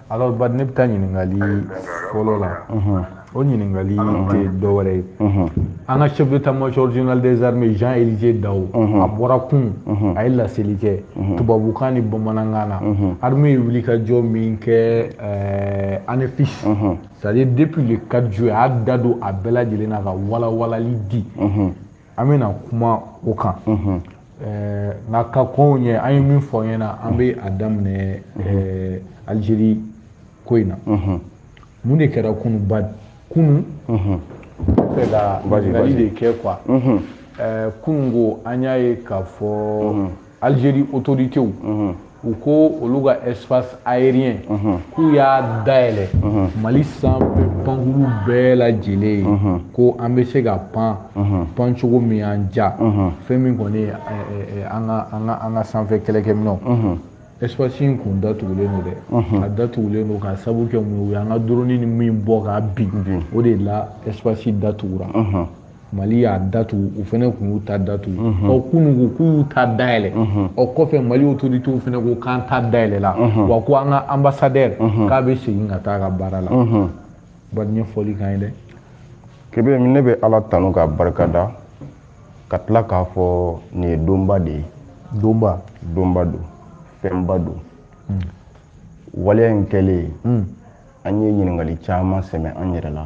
alors bari ne bɛ taa ɲininkali fɔlɔ la o ɲininkali tɛ dɔwɛrɛ ye an ka chef d'état major général des armées Jean Elisée Dao a bɔra kun a ye laseli kɛ tubabukan ni bamanankan na armée ye wulikajɔ min kɛ Anéfis c'est à dire depuis le 4 juillet a y'a da don a bɛɛ lajɛlen na ka walawalali di an bɛna kuma o kan nka ka kɔn o ɲɛ an ye min fɔ ɲɛ na an bɛ a daminɛ Algérie ko in na mun de kɛra kunu ba kunu fɛ ka ɲininkali de kɛ quoi kunun ko an y'a ye k'a fɔ Algérie autoritéw u ko olu ka espace aérien k'u y'a dayɛlɛ mali sanfɛ pankuru bɛɛ lajɛlen ye ko an bɛ se ka pan pan cogo min y'an diya fɛn min kɔni ye an ka an ka an ka sanfɛ kɛlɛkɛminɛnw espace in kun datugulen don dɛ a datugulen don k'a sabu kɛ mun ye u y'an ka drone nin min bɔ k'a bin o de la espace datugura mali y'a datugu u fɛnɛ kun y'u ta datugu mhm. ɔ kunun ko k'u y'u ta dayɛlɛ mhm. ɔ kɔfɛ mali autoritéw fɛnɛ ko k'an ta dayɛlɛla mhm. wa ko an ka ambassadeur k'a bɛ segin ka taa a ka baara la ba ɲɛfɔli kan ye dɛ kebe ne bɛ ala tanu ka barika da ka tila k'a fɔ nin ye donba de ye donba donba don fɛnba don hmm. waleya in kɛlen hmm. an ye ɲininkali caman sɛmɛ an yɛrɛ la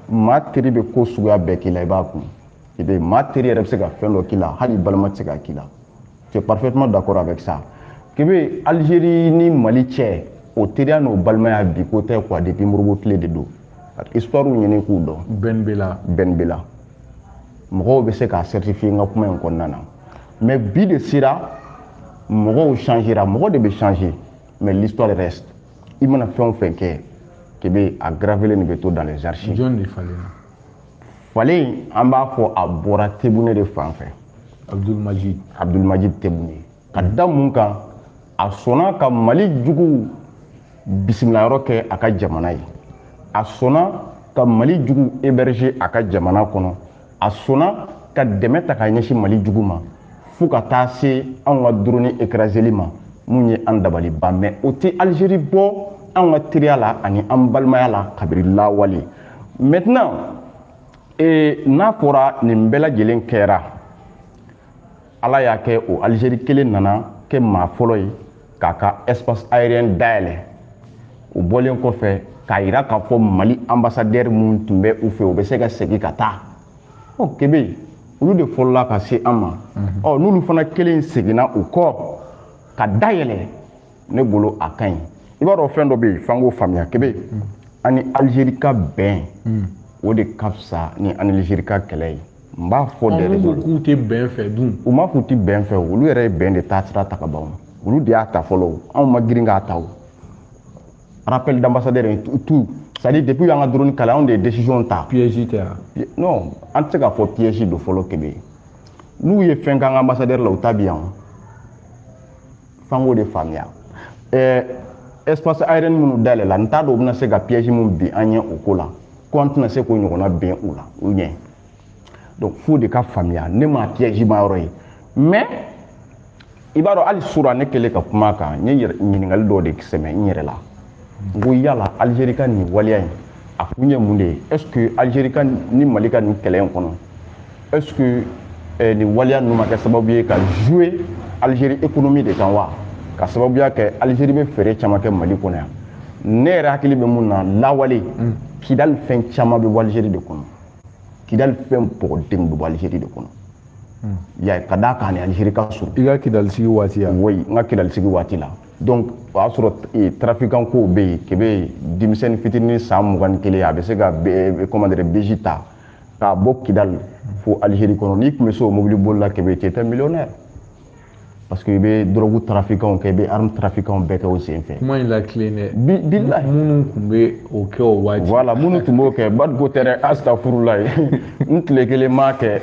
maa teri bɛ ko suguya bɛɛ k'i la i b'a kun kebe maa teri yɛrɛ bɛ se ka fɛn dɔ k'i la hali balima tɛ se ka k'i la tu es parfaitement d'accord avec ça kebe Algérie ni Mali cɛ o teriya n'o balimaya bi ko tɛ quoi depuis Modibo tile de don ka histoire ɲini k'u dɔn Ben Bella Ben Bella mɔgɔw bɛ se k'a certifier n ka kuma in kɔnɔna na mais bi de sera mɔgɔw changera mɔgɔ de bɛ changer mais l'histoire reste i mana fɛn o fɛn kɛ kebe a gravélen de bɛ to dans les archives jɔn de falenna falen an b'a fɔ a bɔra Tebboune de fan fɛ Abdelmadjid Abdelmadjid Tebboune ka da mun kan a sɔnna ka mali juguw bisimilayɔrɔ kɛ a ka jamana ye a sɔnna ka mali juguw héberger a ka jamana kɔnɔ a sɔnna ka dɛmɛ ta ka ɲɛsin mali jugu ma fo ka taa se anw ka drone écraséli ma mun ye an dabali ban mais o tɛ Algérie bɔ anw ka teriya la ani an balimaya la kabiri lawale maintenant n'a fɔra nin bɛɛ lajɛlen kɛra ala y'a kɛ o alizeri kelen nana kɛ maa fɔlɔ ye k'a ka espace aérien dayɛlɛ o bɔlen kɔfɛ k'a yira k'a fɔ mali ambassadɛri min tun bɛ u fɛ o bɛ se ka segin ka taa ɔ kebe olu de fɔlɔla ka se an ma mhm. ɔ n'olu fana kelen seginna u kɔ ka dayɛlɛ ne bolo a ka ɲi i b'a dɔn fɛn dɔ bɛ yen f'an k'o faamuya kebe mhm. an ni alizeri ka bɛn mhm. o de ka fisa ni an ni alizeri ka kɛlɛ ye n b'a fɔ dɛ olu ko k'u tɛ bɛn fɛ dun u ma k'u tɛ bɛn fɛ olu yɛrɛ ye bɛn de taa sira ta ka ban olu de y'a ta fɔlɔ o anw ma girin k'a ta o rappel d'ambassadeur in tout c'est à dire depuis u y'an ka drone kala anw de ye décision ta piège tɛ yan non an tɛ se k'a fɔ piège don fɔlɔ kebe n'u ye fɛn k'an ka ambassadeur la u ta bɛ yan f'an k'o de faamuya ɛɛ espace aérien minnu dayɛlɛla n t'a dɔn u bɛna se ka piège min bila an ɲɛ o ko la ko an tɛna se k'o ɲɔgɔnna bila u ɲɛ donc f'o de ka faamuya ne ma piège ma yɔrɔ ye mais i b'a dɔn hali sura ne kɛlen ka kuma a kan n ye ɲininkali dɔw de sɛmɛ n yɛrɛ la n ko yala alizeri ka nin waleya in a kun ye mun de ye est ce que alizeri ka ni mali ka nin kɛlɛ in kɔnɔ est ce que eh, nin waleya ninnu ma kɛ sababu ye ka jouer alizeri économie de kan wa ka sababuya kɛ alizeri bɛ feere caman kɛ mali kɔnɔ yan ne yɛrɛ hakili bɛ mun na lawale mm. kidali fɛn caman bɛ bɔ alizeri de kɔnɔ kidali fɛn bɔgɔdenw bɛ bɔ alizeri de kɔnɔ mm. ya ka d'a kan ni alizeri ka surun i ka kidali sigi waati ya oui n ka kidali sigi waati la donc o y'a sɔrɔ eh, trafikan kow bɛ yen kebe denmisɛnnin fitinin san mugan ni kelen a bɛ se ka eh, comment dire beji ta k'a bɔ kidali fo algérie kɔnɔ n'i tun bɛ se o mobili boli la kebe tu étais millionnaire parce que i bɛ dɔrɔgu trafikanw kɛ i bɛ arme trafikanw bɛɛ kɛ o sen fɛ. kuma in la tilen dɛ. bi bilahi minnu tun bɛ o kɛ o waati. voilà minnu tun b'o kɛ badiko tɛ dɛ asitafurulayi n tile kelen m'a kɛ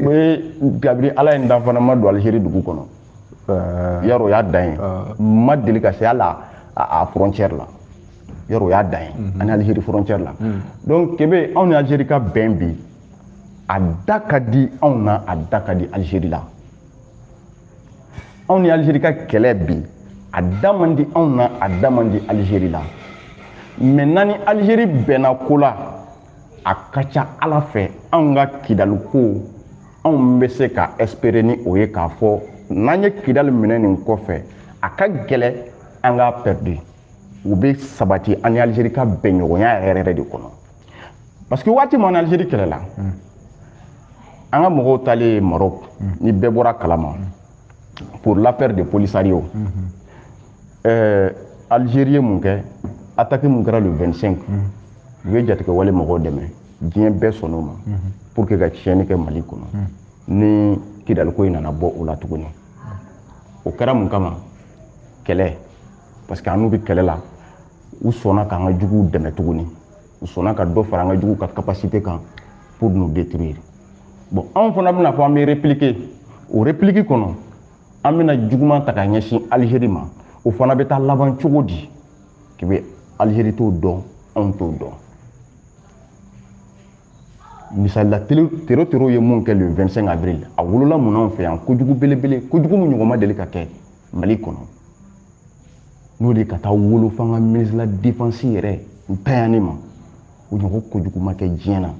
o ye kabini ala ye n dan n fana ma don alizeri dugu kɔnɔ. yɔrɔ o y'a dan ye n ma deli ka se hali a frontière la yɔrɔ o y'a dan ye mhm. ani Algérie frontière la mhm. donc Kebe anw ni Algérie ka bɛn bi a da ka di anw na a da ka di Algérie la anw ni Algérie ka kɛlɛ bi a da man di anw na a da man di Algérie la mais n'an ni Algérie bɛnna ko la a ka ca ala fɛ anw ka kidaliko anw bɛ se ka espere ni o ye k'a fɔ n'an ye kidali minɛ nin kɔfɛ a ka gɛlɛ an k'a pɛridi o bɛ sabati an ni alizeri ka bɛnɲɔgɔnya yɛrɛ yɛrɛ de kɔnɔ parce que waati min an ni alizeri kɛlɛla an ka mɔgɔw taalen ye marɔku ni bɛɛ bɔra kalama pour l'affaire de polisario ɛɛ Algérie ye mun kɛ attaque mun kɛra le 25 u ye jatigɛwale mɔgɔw dɛmɛ diɲɛ bɛɛ sɔnn'o ma pour que ka tiɲɛni kɛ mali kɔnɔ ni kidaliko in nana bɔ o la tuguni o kɛra mun kama kɛlɛ parce que an n'u bɛ kɛlɛ la u sɔnna k'an ka juguw dɛmɛ tuguni u sɔnna ka dɔ fara an ka juguw ka capacité kan pour nous détruire bon anw fana bɛna fɔ an bɛ répliquer o réplique kɔnɔ an bɛna juguman ta ka ɲɛsin Algérie ma o fana bɛ taa laban cogo di kebe Algérie t'o dɔn anw t'o dɔn misali la tero tero ye mun kɛ le 25 avril a wolola mun anw fɛ yan kojugu belebele kojugu min ɲɔgɔn ma deli ka kɛ mali kɔnɔ n'o de ka taa wolo f'an ka ministre de la défense yɛrɛ ntanyani ma o ɲɔgɔn kojugu ma kɛ diɲɛ na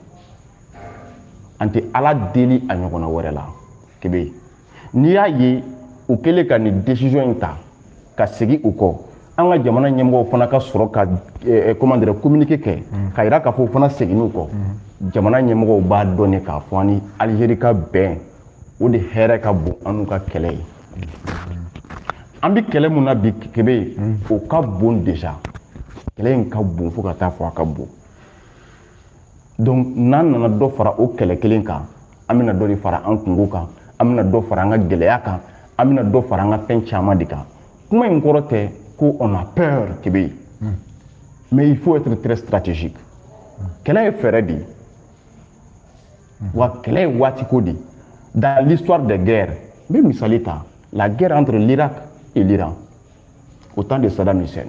an tɛ ala deli a ɲɔgɔnna wɛrɛ la kebe n'i y'a ye u kɛlen ka nin décision in ta ka segin u kɔ an ka jamana ɲɛmɔgɔw fana ka sɔrɔ ka eh, eh, comment dire communiqué kɛ mm. k'a yira k'a fɔ u fana seginn'u kɔ mm. jamana ɲɛmɔgɔw b'a dɔn ne k'a fɔ an ni Algérie ka bɛn o de hɛrɛ ka bon an n'u ka kɛlɛ ye an bɛ kɛlɛ mun na bi kebe mm. o ka bon déjà kɛlɛ in ka bon fo ka taa fɔ a ka bon donc n'an nana dɔ fara o kɛlɛ kelen kan an bɛna dɔ de fara an kunko kan an bɛna dɔ fara an ka gɛlɛya kan an bɛna dɔ fara an ka fɛn caman de kan kuma in kɔrɔ tɛ ko on a peur kebe hmm. mais il faut être très stratégique kɛlɛ ye fɛɛrɛ de ye hmm. wa kɛlɛ ye waatiko de ye dans l'histoire des guerres n bɛ misali ta la guerre entre l'Irak et l'Iran au temps de Saddam Hussein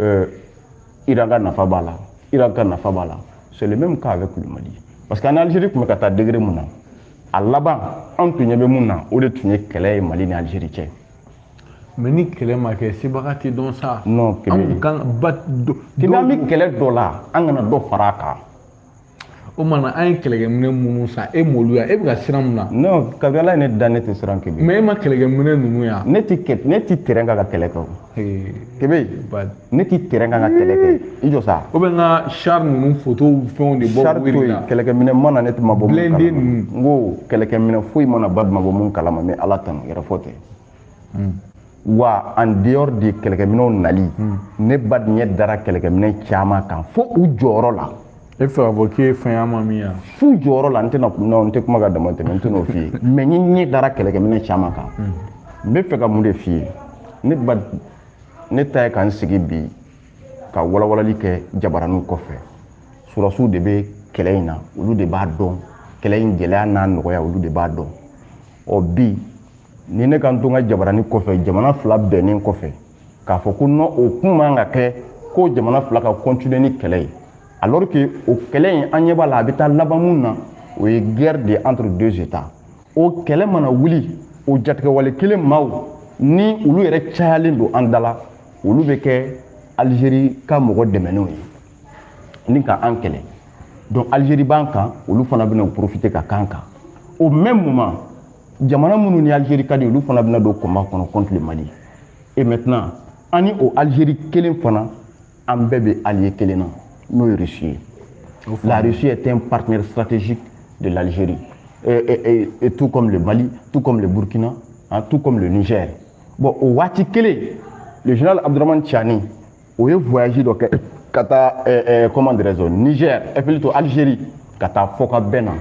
euh, Iran ka nafa b'a la Irak ka nafa b'a la c'est le même cas avec le Mali parce que an ni Algérie tun bɛ ka taa degré mun na a laban anw tun ɲɛ bɛ mun na o de tun ye kɛlɛ ye Mali ni Algérie cɛ mais ni kɛlɛ ma kɛ sebaga tɛ dɔn sa non kebe an kan ba kɛlɛ an bɛ kɛlɛ dɔ la an kana dɔ fara a kan o mana an ye kɛlɛkɛminɛ minnu san e m'olu ya e bɛ ka siran mun na. non kabini ala ye ne da ne tɛ siran kebe. mais e ma kɛlɛkɛminɛ ninnu ya. ne tɛ kɛ ne tɛ terrain kan ka kɛlɛ kɛ o. kebe ne tɛ terrain kan ka kɛlɛ kɛ i jɔ sa. o bɛ n ka char ninnu photos fɛnw de bɔ. char to yen kɛlɛkɛminɛ ma na ne tɛ ma bɔ mun kalama. blindé ninnu. n ko kɛlɛkɛminɛ foyi ma na ba ma bɔ mun kalama mais ala tanu yɛrɛfɔ tɛ. hmm. wa en dehors de kɛlɛkɛminɛw nali hmm. ne ba ɲɛ dara kɛlɛkɛminɛ caman kan fo u jɔyɔrɔ la e fɛ k'a fɔ k'i ye fɛn ma min ya f'u jɔyɔrɔ la n tɛna n tɛ kuma ka damatɛmɛ n tɛn'o f'i ye mais n ɲɛ dara kɛlɛkɛminɛ caman kan hmm. n bɛ fɛ ka mun de f'i ye ne ba ne ta ye ka n sigi bi ka walawalali kɛ jabaraninw kɔfɛ surasiw de bɛ kɛlɛ in na olu de b'a dɔn kɛlɛ in gɛlɛya n'a nɔgɔya olu de b'a dɔn ɔ bi ni ne ka n to n ka jabarani kɔfɛ jamana fila bɛnnen kɔfɛ k'a fɔ ko non o kun man ka kɛ ko jamana fila ka continuer ni kɛlɛ ye alors que o kɛlɛ in an ɲɛ b'a la a bɛ taa laban min na o ye guerre de entre deux états o kɛlɛ mana wuli o jatigɛwale kelen maaw ni olu yɛrɛ cayalen don an da la olu bɛ kɛ algérie ka mɔgɔ dɛmɛnenw ye ni ka an kɛlɛ donc algérie b'an kan olu fana bɛna profiter ka k'an kan au même moment jamana minnu ni algérie ka di olu fana bɛna don combat kɔnɔ contre le mali et maintenant an ni o algérie kelen fana an bɛɛ bɛ allié kelen na n'o ye russie ye la russie est un partenaire stratégique de l'algérie et, et, et, et tout comme le mali tout comme le burkina hein, tout comme le niger bon o waati kelen le général abdourahmane tiani o ye voyage dɔ kɛ ka taa eh, eh, comment dirais-je niger eh plutôt algérie ka taa fɔkabɛn na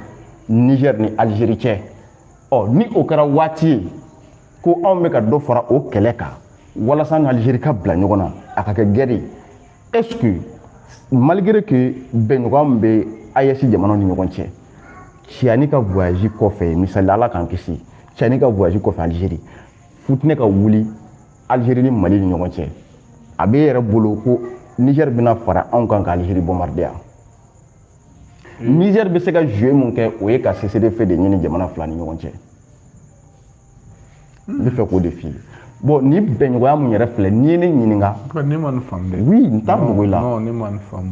niger ni algérie cɛ ɔ ni o kɛra waati ye ko anw bɛ ka dɔ fara o kɛlɛ kan walasa an n'algérie ka bila ɲɔgɔn na a ka kɛ guerre ye est ce que malgré que bɛnɲɔgɔnya min bɛ AES jamanaw ni ɲɔgɔn cɛ Tiani ka voyage kɔfɛ misali ala k'an kisi Tiani ka voyage kɔfɛ Algérie fitinɛ ka wuli Algérie ni Mali ni ɲɔgɔn cɛ a b'e yɛrɛ bolo ko Niger bɛna fara anw kan ka Algérie bombarder hmm. Niger bɛ se ka jouer mun kɛ o ye ka cessez de feu de ɲini jamana fila ni ɲɔgɔn cɛ hmm. n bɛ fɛ k'o de f'i ye bon ni bɛnɲɔgɔnya mun yɛrɛ filɛ n'i ye ne ɲininka ne ma nin faamu dɛ oui n t'a dogo i la non ne ma nin faamu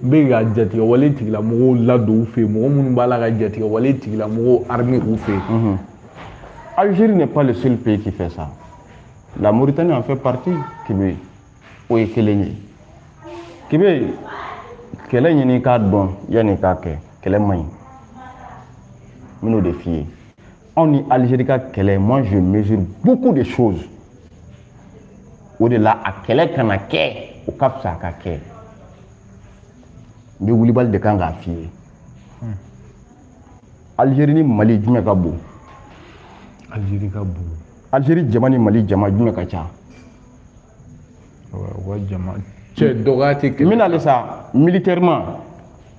n bɛ ka jatigɛwale tigilamɔgɔw ladon u fɛ yen mɔgɔ minnu b'a la ka jatigɛwale tigilamɔgɔw armer u fɛ yen Algérie n'est pas le seul pays qui fait ça la Mauritanie en fait partie Kebe o ye kelen ye Kebe kɛlɛ ɲini k'a dɔn yanni k'a kɛ kɛlɛ man ɲi n bɛn'o de f'i ye anw ni Algérie ka kɛlɛ moi je mesure beaucoup de choses o de la a kɛlɛ kana kɛ o ka fisa a ka kɛ n bɛ wulibali de kan k'a f'i ye algérie ni mali jumɛn ka bon algérie ka bon algérie jama ni mali jama jumɛn ka ca u ka jama cɛ dɔgɔya tɛ kɛlɛ n bɛna ale sa militairement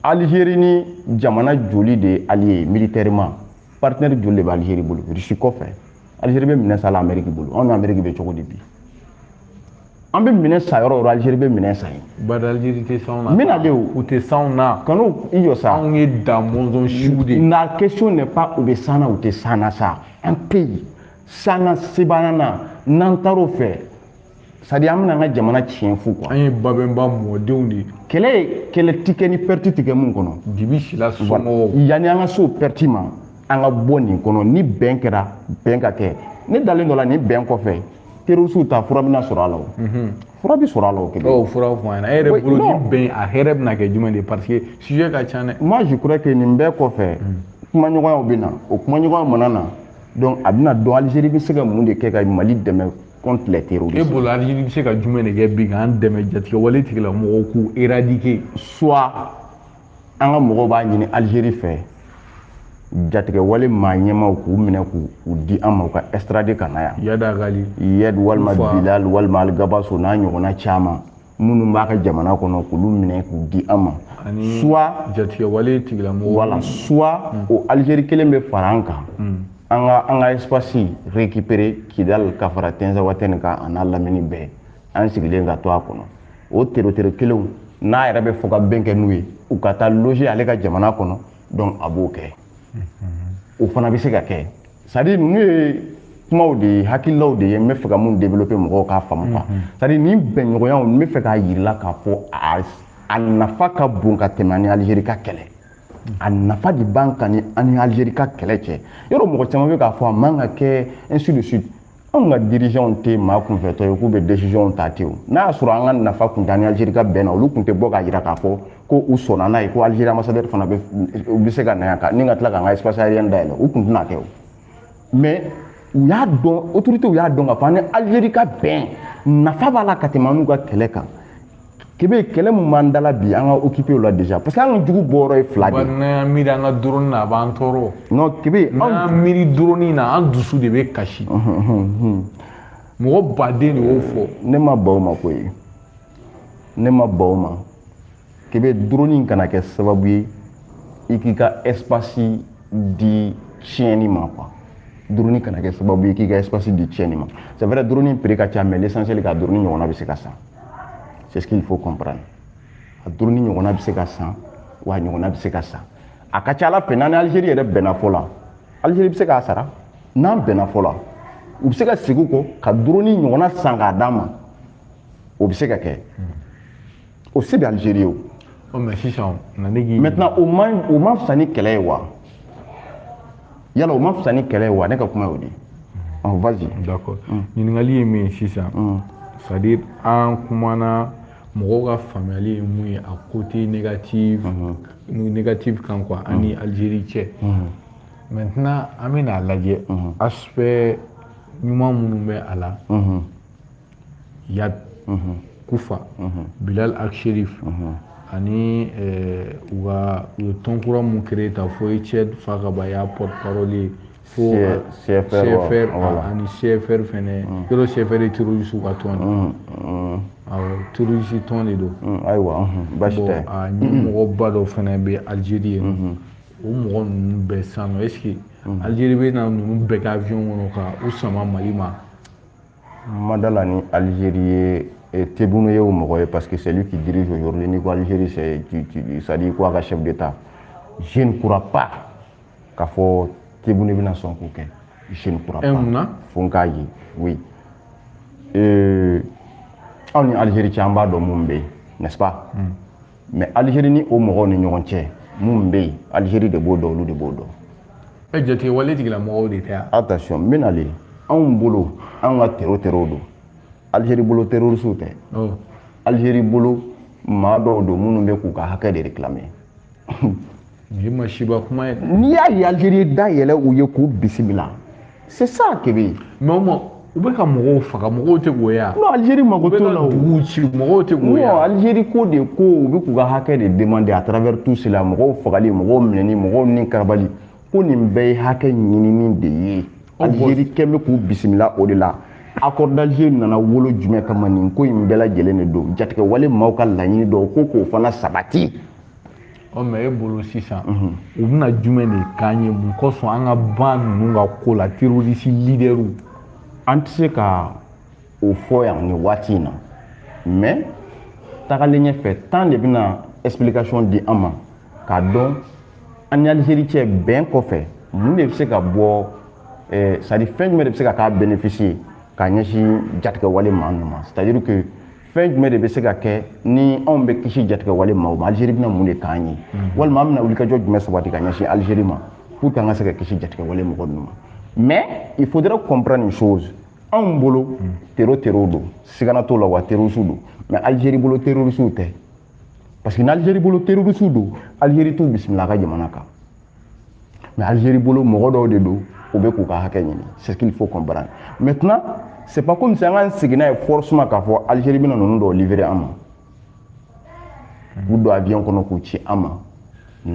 algérie ni jamana joli de ye allié militairement partenaire joli de bɛ algérie bolo russie kɔfɛ Algérie bɛ minɛn san la Amérique bolo anw ni Amérique bɛ cogo di bi an bɛ minɛn san yɔrɔ o yɔrɔ Algérie bɛ minɛn san yen bari Algérie tɛ s'anw na n bɛna de o u tɛ s'anw na Kanu i jɔ sa anw ye da mɔnzɔn siw de ye la question n'est pas u bɛ s'an na u tɛ s'an na sa un pays s'an na sebaaya na n'an taar'o fɛ c'est-à-dire an bɛna an ka jamana tiɲɛ fu quoi an ye babɛnba mɔdenw de ye kɛlɛ ye kɛlɛ ti kɛ ni perte ti kɛ mun kɔnɔ dibi silas somɔgɔw yanni an ka se o perte ma an ka bɔ nin kɔnɔ ni bɛn kɛra bɛn ka kɛ ne dalen don a la nin bɛn kɔfɛ terroristew ta fura bɛna sɔrɔ a la o mhm. fura bɛ sɔrɔ a la o kelen ɔ fura fɔ an ɲɛna e yɛrɛ bolo ni bɛn a hɛrɛ bɛna kɛ jumɛn de ye parce que sujet ka ca dɛ moi je crois que nin bɛɛ kɔfɛ mhm. kumaɲɔgɔnyaw bɛ na o kumaɲɔgɔnya mana na donc a bɛna dɔn Algérie bɛ se ka mun de kɛ ka mali dɛmɛ contre les terroristes. E bolo Algérie bɛ se ka jumɛn de kɛ bi k'an dɛmɛ jatigɛwale tigilamɔgɔw k'u éradiquer. soit an ka mɔgɔw b'a ɲini Algérie fɛ jatigɛwale maa ɲɛmaw k'u minɛ k'u di an ma u ka extrader ka na yan. Iyad Ag Ghali. Iyad walima Bilal walima Alghabass o n'a ɲɔgɔnna caman. minnu b'a ka jamana kɔnɔ k'olu minɛ k'u di an ma soit jatigɛwale tigilamɔgɔw voilà soit hmm. o Algérie kelen bɛ fara an kan hmm. an ka an ka espace récupérer Kidal ka fara Tinzaouatène kan a n'a lamini bɛɛ an sigilen ka to a kɔnɔ o terroriste kelenw n'a yɛrɛ bɛ fɔ ka bɛn kɛ n'u ye u ka taa loger ale ka jamana kɔnɔ donc a b'o kɛ o fana bɛ se ka kɛ c'est-à-dire ninnu ye kumaw de ye hakililaw de ye n bɛ fɛ ka mun développer mɔgɔw k'a faamu quoi c'est-à-dire nin bɛnɲɔgɔnyaw n bɛ fɛ k'a yirila k'a fɔ a nafa ka bon ka tɛmɛ an ni Algérie ka kɛlɛ a nafa de b'an kan ni an ni Algérie ka kɛlɛ cɛ yɔrɔ mɔgɔ caman bɛ k'a fɔ a man ka kɛ ainsi de suite anw ka dirigeantw tɛ maa kunfɛtɔ ye k'u bɛ décisionw ta ten o n'a y'a sɔrɔ an ka nafa kun t'an ni Algérie ka bɛn na olu kun tɛ bɔ k'a jira k'a fɔ ko u sɔnna n'a ye ko Algérie ambassadeur fana u bɛ se ka na yan ka ni ka tila k'an ka espace aérien dayɛlɛ u kun tɛna kɛ o mais u y'a dɔn autoritéw y'a dɔn k'a fɔ an ni Algérie ka bɛn nafa b'a la ka tɛmɛ an n'u ka kɛlɛ kan kebe kɛlɛ min b'an dala bi an ka occuper o la déjà parce que an ka jugu bɔyɔrɔ ye fila de n'an miiri an ka drone na a b'an tɔɔrɔ non kebe n'an miiri drone na an dusu de bɛ kasi mɔgɔ baden de y'o fɔ ne ma ban o ma koyi ne ma ban o ma kebe drone kana kɛ sababu ye i k'i ka espace di tiɲɛni ma quoi drone kana kɛ sababu ye k'i ka espace di tiɲɛni ma c'est vrai drone prix ka ca mais l'essentiel ka drone ɲɔgɔnna bɛ se ka san c'est ce qu'il faut comprendre a drone in ɲɔgɔnna bɛ se ka san wa a ɲɔgɔnna bɛ se ka san a ka ca ala fɛ n'an ni algérie yɛrɛ bɛnna fɔ la algérie bɛ se k'a sara n'an bɛnna fɔ la u bɛ se ka segin kɔ ka drone in ɲɔgɔnna san k'a d'an ma o bɛ se ka kɛ o se bɛ algérie ye o maintenant o man o man fisa ni kɛlɛ ye wa yala o ma fisa ni kɛlɛ ye wa ne ka kuma y'o de ye ɔn vas-y d'accord mm. ɲininkali ye min ye sisan mm. c'est à dire an kumana mɔgɔw ka faamuyali ye mun ye a côté négatif mm-hmm. négatif kan quoi mm. an ni Algérie cɛ mm-hmm. maintenant an bɛna a lajɛ mm-hmm. aspect ɲuman minnu bɛ a la iyad mhm. kufa mhm. bilal ag acherif mhm. ani eh, u ka u ye tɔn kura mun créé ta fo etienne fakaba y'a porte parole ye fo cfr ani cfr fɛnɛ yɔrɔ cfr ye terroriste ka tɔn de awɔ terroriste tɔn de don ayiwa basi tɛ a ɲɛmɔgɔba dɔ fɛnɛ bɛ algerie yen nɔ o mɔgɔ ninnu bɛɛ sisan nɔ est ce que algerie bɛ na ninnu bɛɛ kɛ avion kɔnɔ ka u sama mali ma ma d'a la ni algérie ye eh, tebboune ye o mɔgɔ ye parce que c'est lui qui dirige aujourd'hui n'i ko algérie c'est à dire ko a ka chef d'état je ne crois pas k'a fɔ tebboune bɛna sɔn k'o kɛ je ne crois eh, pas fo n k'a ye oui euh, anw ni algérie cɛ an b'a dɔn mun bɛ yen n'est ce pas mm. mais alizeri ni o mɔgɔw ni ɲɔgɔn cɛ mun bɛ yen alizeri de b'o dɔn olu de b'o dɔn ɛ jatigɛwale tigilamɔgɔw de tɛ yan attention n bɛ na le anw bolo an ka tero terow don alizeri bolo terorisiw tɛ oh. alizeri bolo maa dɔw don minnu bɛ k'u ka hakɛ de réclamer Nin masiba kuma ye. N'i y'a ye Algérie da yɛlɛ u ye k'u bisimila. C'est ça Kebe. Mais o ma u bɛ ka mɔgɔw faga mɔgɔw tɛ k'o ye a. Non Algérie mago t'o la o. U bɛ ka duguw ci mɔgɔw tɛ k'o ye a. Non Algérie ko de ko u bɛ k'u ka hakɛ de demander à travers tout cela mɔgɔw fagali mɔgɔw minɛni mɔgɔw nikarabali ko nin bɛɛ ye hakɛ ɲinini de ye. Algérie kɛn bɛ k'u bisimila o de la. Accord d'Alger nana wolo jumɛn kama nin ko in bɛɛ lajɛlen de don jatigɛwale maaw ka laɲini dɔw ko k'o fana sabati. ɔ mais e bolo sisan u bɛna jumɛn de k'an ye mun kosɔn an ka ban ninnu ka ko la terorisi lidɛriw an tɛ se ka o fɔ yan nin waati in na mais tagalen ɲɛfɛ temps de bɛna explication di an ma k'a dɔn an ni alizeri cɛ bɛn kɔfɛ mun de bɛ se ka bɔ eh, c'est à dire fɛn jumɛn de bɛ se ka kɛ bénéfice ye ka ɲɛsin jatigɛwale maa ninnu ma c'est à dire que fɛn jumɛn de bɛ se ka kɛ ni anw bɛ kisi jatigɛwale maaw ma alizeri bɛna mun de k'an ye walima an bɛna wulikajɔ jumɛn sabati ka ɲɛsin alizeri ma pour que an ka se ka kisi jatigɛwale mɔgɔ ninnu ma mais il faudrait comprendre une chose anw bolo tero terow don sigana t'o la wa terorisiw don mais alizeri bolo terorisiw tɛ parce que n'alizeri bolo terorisiw don alizeri t'u bisimila a ka jamana kan mais Algérie bolo mɔgɔ dɔw de don u bɛ k'u ka hakɛ ɲini c'est ce qu'il faut comprendre maintenant c'est pas comme si an k'an sigi n'a ye forcément k'a fɔ Algérie bɛna ninnu dɔw livrer an ma k'u don avion kɔnɔ k'u ci an ma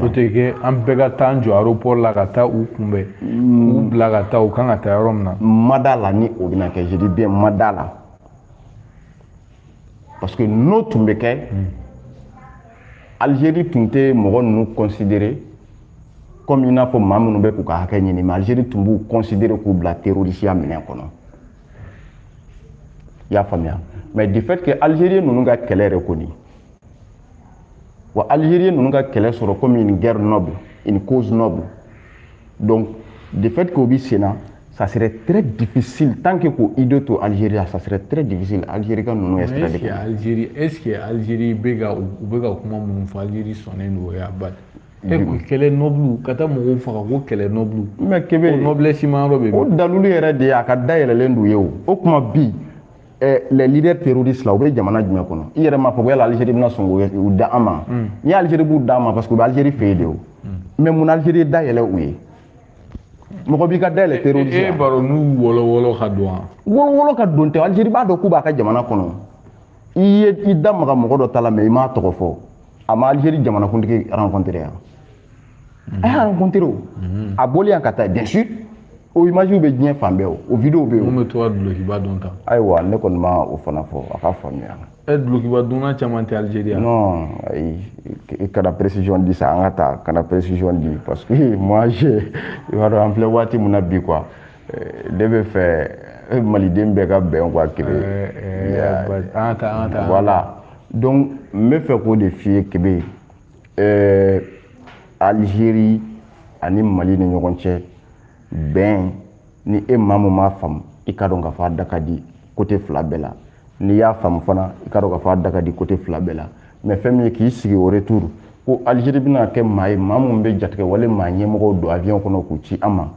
o tɛ kɛ an bɛɛ ka taa an jɔ aéroport la ka taa u kunbɛn k'u bila ka taa u kan ka taa yɔrɔ min na ma d'a la ni o bɛna kɛ je dis bien ma d'a la parce que n'o tun bɛ kɛ Algérie tun tɛ mɔgɔ ninnu considérer comme i n'a fɔ maa minnu bɛ k'u ka hakɛ ɲini mais Algérie tun b'u considérer k'u bila terrorisiya minɛn kɔnɔ i y'a faamuya mais du fait que Algérie ninnu ka kɛlɛ yɛrɛ kɔni wa algérie ninnu ka kɛlɛ sɔrɔ comme une guerre noble une cause noble donc du fait que o bi sen na ça serait très difficile tant que k'o idée to algérie la ça serait très difficile algérie ka ninnu extrader kɛ algérie est ce que algérie bɛ ka u bɛ ka kuma minnu fɔ algérie sɔnnen don o y'a bali e ko kɛlɛ noble ka taa mɔgɔw faga ko kɛlɛ noble mais kebe o noblesse ma yɔrɔ bɛ min o dalilu yɛrɛ de ye a ka dayɛlɛlen don u ye o o kuma bi eh, les leaders terroristes là u bɛ jamana jumɛn kɔnɔ i yɛrɛ m'a fɔ ko yala Algérie bɛna sɔn k'u da an ma hmm. n'i ye Algérie b'u da an ma parce que u bɛ Algérie fɛ yen de o hmm. mais mun na Algérie dayɛlɛ u ye mɔgɔ b'i ka dayɛlɛ e, e, terroristes la e b'a dɔn n'u wɔlɔwɔlɔ ka don wa wɔlɔwɔlɔ ka don tɛ Algérie b'a dɔn k'u b'a ka jamana kɔnɔ i ye i da maga mɔgɔ dɔ ta la mais i m'a tɔgɔ fɔ a ma Algérie jamanakuntigi rencontrer yan a y'a rencontré o a bɔli yan ka taa bien sûr o image bɛ diɲɛ fan bɛɛ o o video bɛ yen min bɛ to ka dulokiba don tan ayiwa ne kɔni ma o fana fɔ a ka faamuya ɛ dulokiba donna caman tɛ Algérie yan non ayi i kana précision di sa an ka taa kana précision di parce que moi je i b'a dɔn an filɛ waati min na bi quoi ne bɛ fɛ maliden bɛɛ ka bɛn quoi kebe an ka taa an ka taa voilà donc n bɛ fɛ k'o de f'i ye kebe ɛɛ Algérie ani mali ni ɲɔgɔn cɛ bɛn ni e maa min m'a faamu i ka dɔn k'a fɔ a da ka di côté fila bɛɛ la n'i y'a faamu fana i ka dɔn k'a fɔ a da ka di côté fila bɛɛ la mais fɛn min ye k'i sigi au retour ko Algérie bɛna kɛ maa ye maa min bɛ jatigɛwale maa ɲɛmɔgɔw don avion kɔnɔ k'u ci an ma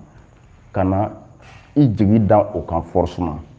ka na i jigi da o kan forcément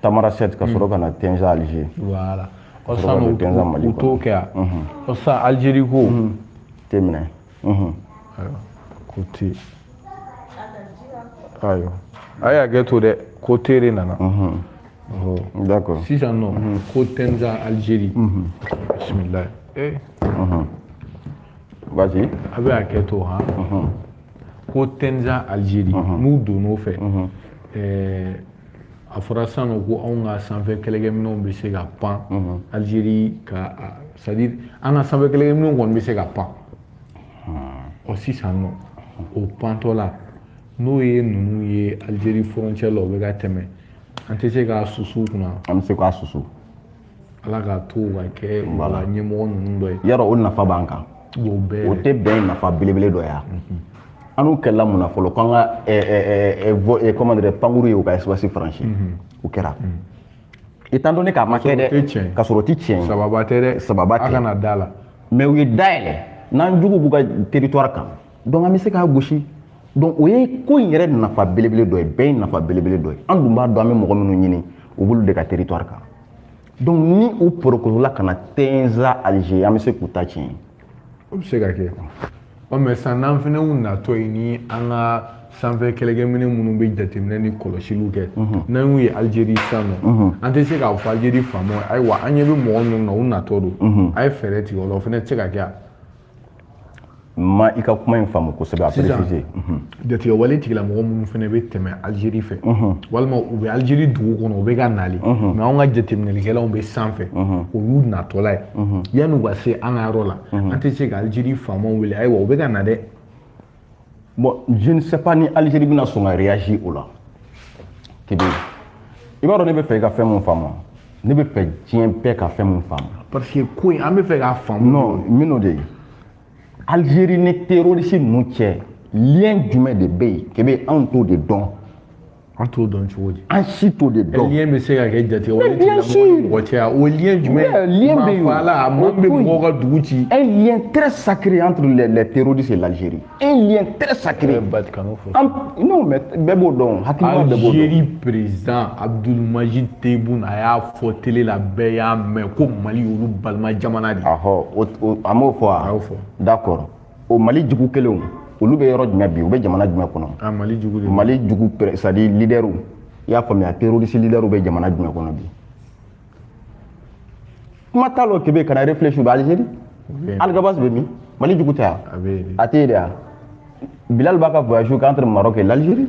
Tamanrasset ka sɔrɔ ka na Tinza Algérie voilà ɔ san u t'o kɛ yan ɔ san Algérie ko tɛ minɛ ayiwa ko te ayiwa a y'a kɛ to dɛ ko tere nana d'accord sisan nɔ ko Tinza Algérie bisimilayi ee vas-y a bɛ a kɛ to han ko Tinza Algérie n'u donn'o fɛ ɛɛ a fɔra san nɔ ko anw ka sanfɛ kɛlɛkɛminɛnw bɛ se ka pan Algérie ka c'est-à-dire an ka sanfɛ kɛlɛkɛminɛnw kɔni bɛ se ka pan ɔ sisan nɔ o pantɔ la n'o ye ninnu ye Algérie frontière la o bɛ ka tɛmɛ an tɛ se k'a susu kunna an bɛ se k'a susu ala k'a to ka kɛ wala ɲɛmɔgɔ ninnu dɔ ye yɔrɔ o nafa b'an kan o tɛ bɛn nafa belebele dɔ ye mhm. an n'u kɛlɛla mun na fɔlɔ k'an ka comment dirais pankuru ye u ka espace franchi mhm. o kɛra mhm. étant donné k'a ma kɛ dɛ ka sɔrɔ o tɛ tiɲɛ ye sababa tɛ dɛ sababa tɛ a kana da la mais u ye da yɛlɛ n'an jugu b'u ka territoire kan donc an bɛ se k'a gosi donc o ye ko in yɛrɛ nafa belebele dɔ ye bɛɛ ye nafa belebele dɔ ye an dun b'a dɔn an bɛ mɔgɔ minnu ɲini u b'olu de ka territoire kan donc ni u porokotola ka na Tinza à l'aise an bɛ se k'u ta tiɲɛ o bɛ se ka kɛ ɔ mais sisan n'an fana y'u natɔ ye ni an ka sanfɛ kɛlɛkɛminɛ minnu bɛ jateminɛ ni kɔlɔsiliw kɛ mhm. n'an y'u ye Algérie sisan nɔ mhm. an tɛ se k'a fɔ Algérie faamaw ayiwa an ɲɛ bɛ mɔgɔ minnu na u natɔ don mhm. a ye fɛɛrɛ tigɛ o la o fana tɛ se ka kɛ a ma i ka kuma in faamu kosɛbɛ a préciser mhm. jatigɛwale tigilamɔgɔ minnu fana bɛ tɛmɛ Algérie fɛ mhm. walima u bɛ Algérie dugu kɔnɔ u bɛ ka nali mhm. mais anw ka jateminɛlikɛlaw bɛ sanfɛ o y'u natɔla ye yanni u ka se an ka yɔrɔ la an tɛ se ka Algérie faamaw wele ayiwa u bɛ ka na dɛ bon je ne sais pas ni Algérie bɛna sɔn ka réagir o la kebe i b'a dɔn ne bɛ fɛ i ka fɛn mun faamu ne bɛ fɛ diɲɛ bɛɛ ka fɛn mun faamu. parce que ko in an bɛ fɛ k'a faamu. non n bɛn'o de ye Algérie ni terroriste ninnu cɛ lien jumɛn de bɛ yen kebe anw t'o de dɔn. An t'o dɔn cogo di an si t'o de dɔn lien bɛ se ka kɛ jatigɛwale Mais bien sûr. mɔgɔ cɛ o lien Oui, jumɛn euh, lien bɛ yen. maafala a mɔgɔ min bɛ Oui. mɔgɔw ka dugu ci un lien très sacré entre les, les terroristes et l'Algérie un lien très sacré ba kanu fɔ An- non mais bɛɛ b'o dɔn hakilima bɛɛ b'o dɔn Algérie président Abdulmajid Tebboune a y'a fɔ télé la bɛɛ y'a mɛn ko Mali y'olu balima jamana de ye. ahɔ o- o- a m'o fɔ A wa y'o fɔ. d'accord o mali jugu kelenw olu bɛ yɔrɔ jumɛn bi u bɛ jamana jumɛn kɔnɔ ah, mali jugu mali jugu c'est-à-dire lidɛriw i y'a faamuya terroriste lidɛriw bɛ jamana jumɛn kɔnɔ bi kuma t'a la kebe kana réfléchir u bɛ algérie alghabass bɛ min mali jugu tɛ a a tɛ yen de a bilal b'a ka voyage kɛ entre maroc et l'algérie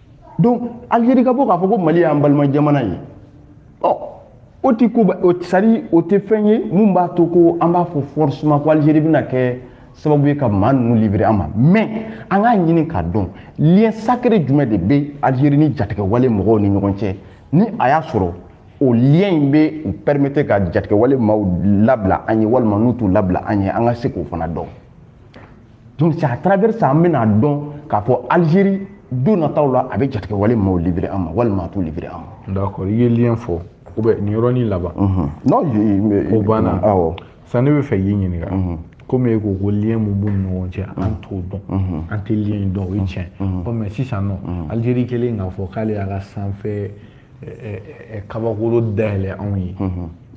donc algérie ka bɔ k'a fɔ ko mali y'an balima jamana ye ɔ o tɛ ko c'est-à-dire o tɛ fɛn ye min b'a to ko an b'a fɔ forcément ko algérie bɛna kɛ sababu ye ka maa ninnu livrer an ma mais an k'a ɲini k'a dɔn lien sacré jumɛn de bɛ algérie ni jatigɛwale mɔgɔw ni ɲɔgɔn cɛ ni a y'a sɔrɔ o lien in bɛ u permettre ka jatigɛwale maaw labila an ye walima n'u t'u labila an ye an ka se k'o fana dɔn donc c'est à travers ça an bɛna dɔn k'a fɔ Algérie don nataw la a bɛ jatigɛwale maaw livrer an ma walima a t'u livrer an ma. d'accord i ye lien fɔ ou bien nin yɔrɔnin laban. Mhm. non o banna awɔ sisan ne bɛ fɛ k'i ɲininka. Mhm. komi e ko ko lien mun b'u ni ɲɔgɔn cɛ an mhm. t'o dɔn an tɛ lien in dɔn o ye tiɲɛ ɔ mais sisan nɔ Algérie kɛlen k'a fɔ k'ale y'a ka sanfɛ. kabakolo dayɛlɛ anw ye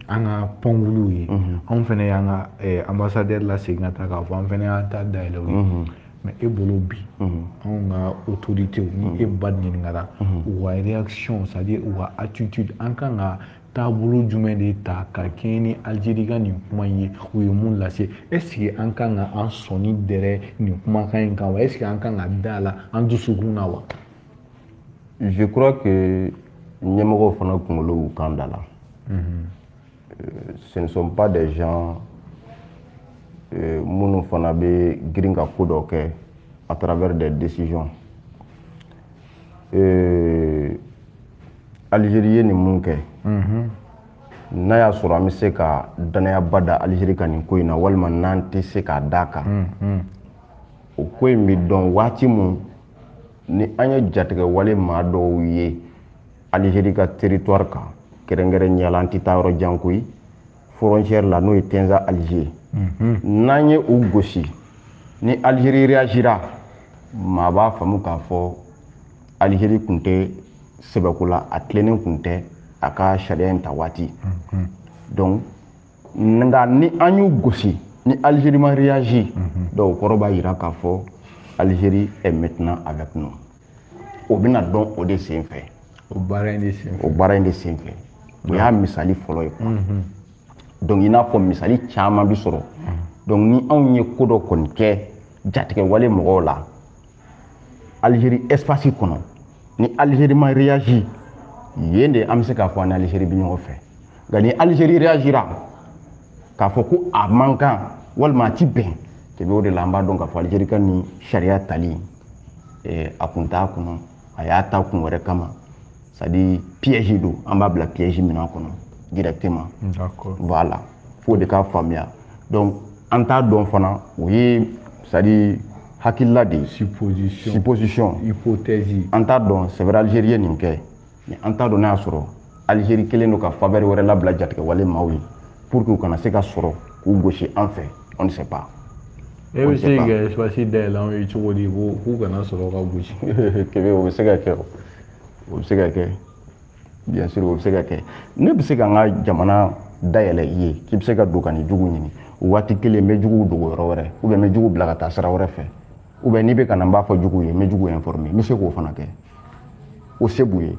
an ka pankuluw ye anw fɛnɛ y'an ka ambassadeur lasegin ka taa k'a fɔ an fɛnɛ y'an ta dayɛlɛ u ye mais e bolo bi anw ka autorités ni e ba ɲininkara u ka réaction c'est à dire u ka attitude an kan ka taabolo jumɛn de ta ka kɛɲɛ ni Algérie ka nin kuma in ye u ye mun lase est-ce que an kan ka an sɔnni dɛrɛ nin kumakan in kan wa est-ce que an kan ka da a la an dusukun na wa je crois que ɲɛmɔgɔw fana kunkolo y'u kan da la mhm. euh, ce ne sont pas des gens euh, minnu fana bɛ girin ka ko dɔ kɛ à travers des décisions euh, Algérie ye nin mun kɛ mhm. n'a y'a sɔrɔ an bɛ se ka danayaba da Algérie kan nin ko in na walima n'an tɛ se k'a d'a kan mhm. o ko in bɛ dɔn waati mun ni an ye jatigɛwale maa dɔw ye Algérie ka territoire kan kɛrɛnkɛrɛnnenya la an tɛ taa yɔrɔ jan koyi frontière la n'o ye Tinza Alger mhm. n'an ye u gosi ni Algérie réagira maa b'a faamu k'a fɔ Algérie kun tɛ sɛbɛko la a tilennen kun tɛ a ka sariya in ta waati mhm. donc nka ni an y'u gosi ni Algérie ma réagir donc o kɔrɔ b'a jira k'a fɔ Algérie est maintenant avec nous o bɛna dɔn o de sen fɛ o baara in de sen fɛ o baara in de sen fɛ o y'a misali fɔlɔ ye quoi donc i n'a fɔ misali caman bi sɔrɔ donc ni anw ye ko dɔ kɔni kɛ jatigɛwale mɔgɔw la Algérie espace kɔnɔ ni Algérie ma réagir yen de an bɛ se k'a fɔ an ni Algérie bɛ ɲɔgɔn fɛ nka ni Algérie réagira k'a fɔ ko a man kan walima a ti bɛn kebe o de la an b'a dɔn k'a fɔ Algérie ka nin sariya tali a kun t'a kɔnɔ a y'a ta kun wɛrɛ kama c'est à dire piège don an b'a bila piège min kɔnɔ directement voilà fo de k'a faamuya donc an t'a dɔn fana o ye c'est à dire hakilila de ye supposition supposition hypothèse an t'a dɔn c'est vrai algérie ye nin kɛ mais an t'a dɔn n'a y'a sɔrɔ algérie kelen don ka faveur wɛrɛ labila jatigɛwale maaw ye pour que u kana se ka sɔrɔ k'u gosi an fɛ on ne sait pas e bɛ se ka espace dayɛlɛ anw ye cogo di ko k'u kana sɔrɔ ka gosi kebe o bɛ se ka kɛ o o bɛ se ka kɛ bien sûr o bɛ se ka kɛ ne bɛ se ka n ka jamana dayɛlɛ i ye k'i bɛ se ka don ka n'i jugu ɲini o waati kelen n bɛ juguw dogo yɔrɔ wɛrɛ ou bien n bɛ jugu bila ka taa sira wɛrɛ fɛ ou bien n'i bɛ ka na n b'a fɔ juguw ye n bɛ juguw informer n bɛ se k'o fana kɛ o se b'u ye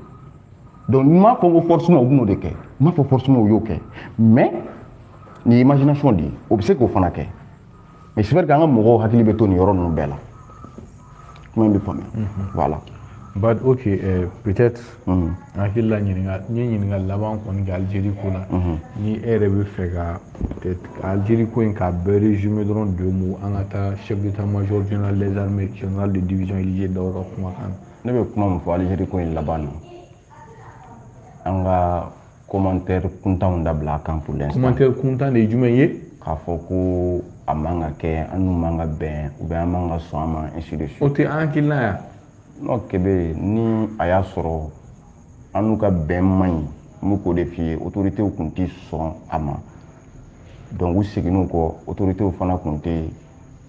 donc n m'a fɔ ko forcément u bɛn'o de kɛ n m'a fɔ forcément u y'o kɛ mais nin imagination de ye o bɛ se k'o fana kɛ mais c'est vrai qu'an ka mɔgɔw hakili bɛ to nin yɔrɔ ninnu bɛɛ la kuma in bɛ faamuya voilà bon ok eh, peut-être n hakili la ɲininka n ye ɲininka laban kɔni kɛ Algérie ko la ni e yɛrɛ bɛ fɛ ka peut-être ka Algérie ko in k'a bɛɛ résumer dɔrɔn deux mots an ka taa chef d'état-major général des armées général de division Élisée Dao ka kumakan na ne bɛ kuma min fɔ Algérie ko in laban na an ka commentaire kuntanw dabila a kan pour l'instant commentaire kuntan de ye jumɛn ye k'a fɔ ko a man ka kɛ an n'u man ka bɛn ou bien an man ka sɔn a ma ainsi de suite o tɛ an hakilina ye non Kébé ni a y'a sɔrɔ an n'u ka bɛn man ɲi n bɛ k'o de f'i ye autorités tun tɛ sɔn a ma donc u seginn'u kɔ autorités fana tun tɛ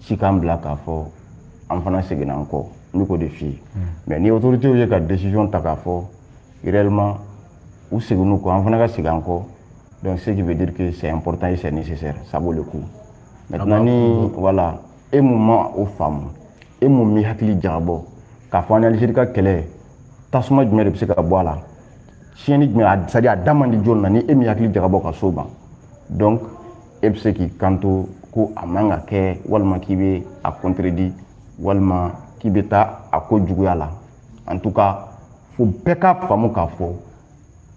se k'an bila k'a fɔ an fana seginna an kɔ n bɛ k'o de f'i ye mais ni autorités ye ka décision ta k'a fɔ réellement u seginn'u kɔ an fana ka segin an kɔ donc ce qui veut dire que c'est important et c'est nécessaire ça vaut le coup maintenant ni voilà e mun ma o faamu e mun m'i hakili jagabɔ k'a fɔ an ni Algérie ka kɛlɛ tasuma jumɛn de bɛ se ka bɔ a la tiɲɛni jumɛn c'est à dire a da man di jɔni na ni e m'i hakili jagabɔ ka s'o ma donc e bɛ se k'i kanto ko a man ka kɛ walima k'i bɛ a contredire walima k'i bɛ taa a ko juguya la en tout cas fo bɛɛ ka faamu k'a fɔ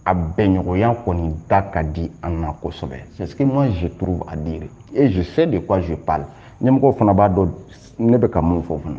a bɛnɲɔgɔnya kɔni da ka di an na kosɛbɛ c'est ce que moi je trouve à dire et je sais de quoi je parle ɲɛmɔgɔw fana b'a dɔn ne bɛ ka mun fɔ fana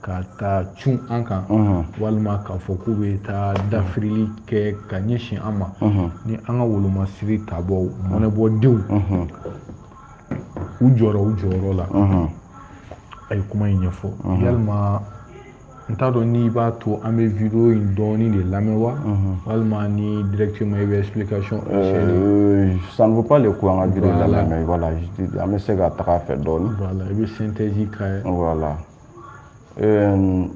ka taa cun an kan walima k'a fɔ k'u bɛ taa dafirili kɛ ka ɲɛsin an ma ni an ka wolomasiri tabɔw mɔnɛbɔdenw u jɔra u jɔyɔrɔ la a ye kuma in ɲɛfɔ yalima n t'a dɔn n'i b'a to an bɛ vidéo in dɔɔni de lamɛn wa walima ni directement i bɛ explication euh, ça ne vaut pas le coup an ka vidéo lamɛn voilà an bɛ se ka taga a fɛ dɔɔni voilà i bɛ synthèse k'a ye voilà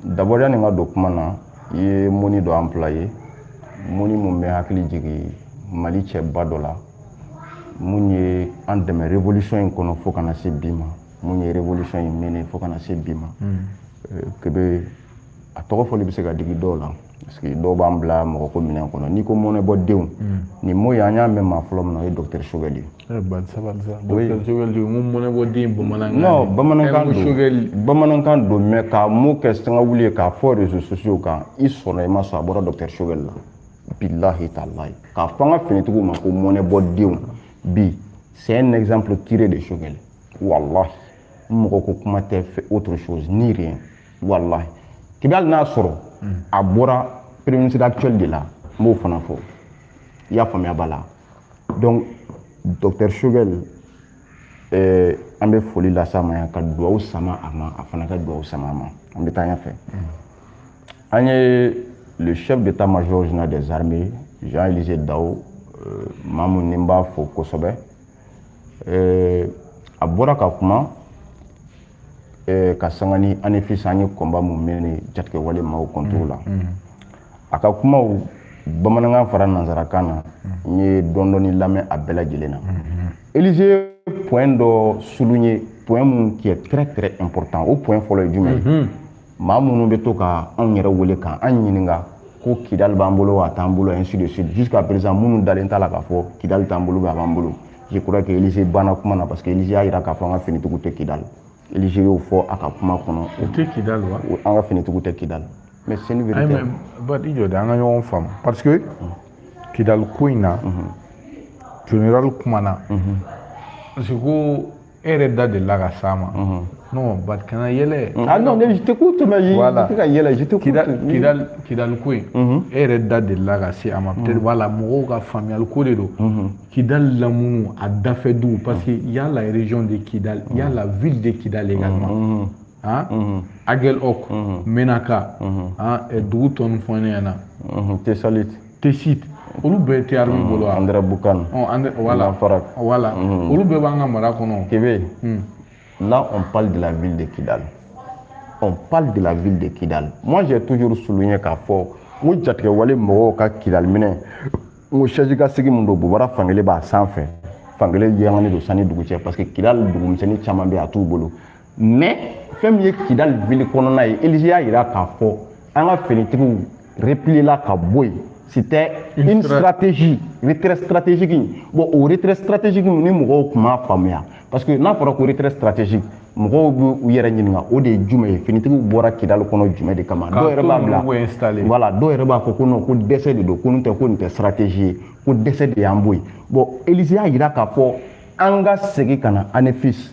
d'abord yani n ka don kuma na i ye mot nin dɔ employer mot nin mun bɛ hakili jigin mali cɛba dɔ la mun ye an dɛmɛ révolution in kɔnɔ fo ka na se bi ma mun ye révolution in mɛnɛ fo ka na se bi ma Kébé a tɔgɔ fɔli bɛ se ka digi dɔw la parce que dɔw b'an bila mɔgɔ ko minɛn kɔnɔ n'i ko mɔnɛbɔdenw nin mot in an y'a mɛn maa fɔlɔ min na o ye docteur Choguel ye Eh, ban sabali sa oui. Choguel mun mɔnɛbɔden bamanankan non bamanankan don Choguel bamanankan don mais ka mot kɛ sanga wuli ye k'a fɔ réseaux sociaux kan i sɔnna i ma sɔn a bɔra docteur Choguel la billahi talahi k'a fɔ an ka finitigiw ma ko mɔnɛbɔdenw bi c'est un exemple tiré de Choguel wallahi mɔgɔ ko kuma tɛ fait autre chose ni rien wallahi k'i bɛ hali n'a sɔrɔ a bɔra premier ministre actuel de la n b'o fana fɔ i y'a faamuya b'a la donc docteur Choguel eh, an bɛ foli las'a ma yan ka dugawu sama a ma a fana ka dugawu sama an ma an bɛ taa ɲɛfɛ an ye le chef d'état major général des armées Jean Élisée Dao euh, maa mun ni n b'a fo kosɛbɛ eh, a bɔra ka kuma eh, ka sanga ni Anefis an ye combat mun mené jatigɛwale maaw contre la mm, mm. a ka kumaw bamanankan fara nanzarakan na n ye dɔɔni dɔɔni lamɛn a bɛɛ lajɛlen na Élisée point dɔ souligner point mun qui est très très important o point fɔlɔ ye jumɛn ye maa minnu bɛ to ka anw yɛrɛ wele ka an ɲininka ko Kidal b'an bolo wa a t'an bolo ainsi de suite jusqu'à présent minnu dalen t'a la k'a fɔ Kidal t'an bolo a b'an bolo je crois que Élisée banna kuma na parce que Élisée y'a jira k'a fɔ an ka finitigiw tɛ Kidal Élisée y'o fɔ a ka kuma kɔnɔ u tɛ Kidal wa an ka finitigiw tɛ Kidal mais c'est une vérité ba i jɔ de an ka ɲɔgɔn faamu parce que Kidal ko in na mhm. général kumana mhm. parce que ko e yɛrɛ da delila ka s'a ma non Ba i kana yɛlɛ ah non je t'écoute mais je voilà. tɛ ka yɛlɛ je t'écoute kidal kidal ko in e yɛrɛ da delila ka se a ma peut-être voilà mɔgɔw ka faamuyali ko de don kidal lamunu a dafɛ duguw parce que il y a la région de kidal il y a la ville de kidal également Aguelhok Ménaka dugu tɔ nin fɔ ne ɲɛna Tessalit Tessit olu bɛɛ tɛ armée mm, bolo Andéramboukane voilà farak voilà mm. olu bɛɛ b'an ka mara kɔnɔ Kébé mm. là on parle de la ville de Kidal on parle de la ville de Kidal moi j'ai toujours souligné k'a fɔ n ko jatigɛwale mɔgɔw ka Kidal minɛ n ko chaise kan sigi mun don bobara fankelen b'a sanfɛ fankelen yɛlɛmani don san ni dugu cɛ parce que Kidal dugumisɛnnin caman bɛ a t'u bolo mais fɛn min ye Kidal ville kɔnɔna ye Élisée y'a yira k'a fɔ an ka finitigiw repliéla ka bɔ yen c'était une stratégie retrait stratégique bon o retrait stratégique nin mɔgɔw tun m'a faamuya parce que n'a fɔra ko retrait stratégique mɔgɔw bɛ u yɛrɛ ɲininka o de ye jumɛn ye finitigiw bɔra Kidal kɔnɔ jumɛn de kama dɔw yɛrɛ b'a bila voilà dɔw yɛrɛ b'a fɔ ko non ko dɛsɛ de don ko nin tɛ ko nin tɛ stratégie ye ko dɛsɛ de y'an bɔ yen bon Élisée y'a jira k'a fɔ an ka segin ka na Anefis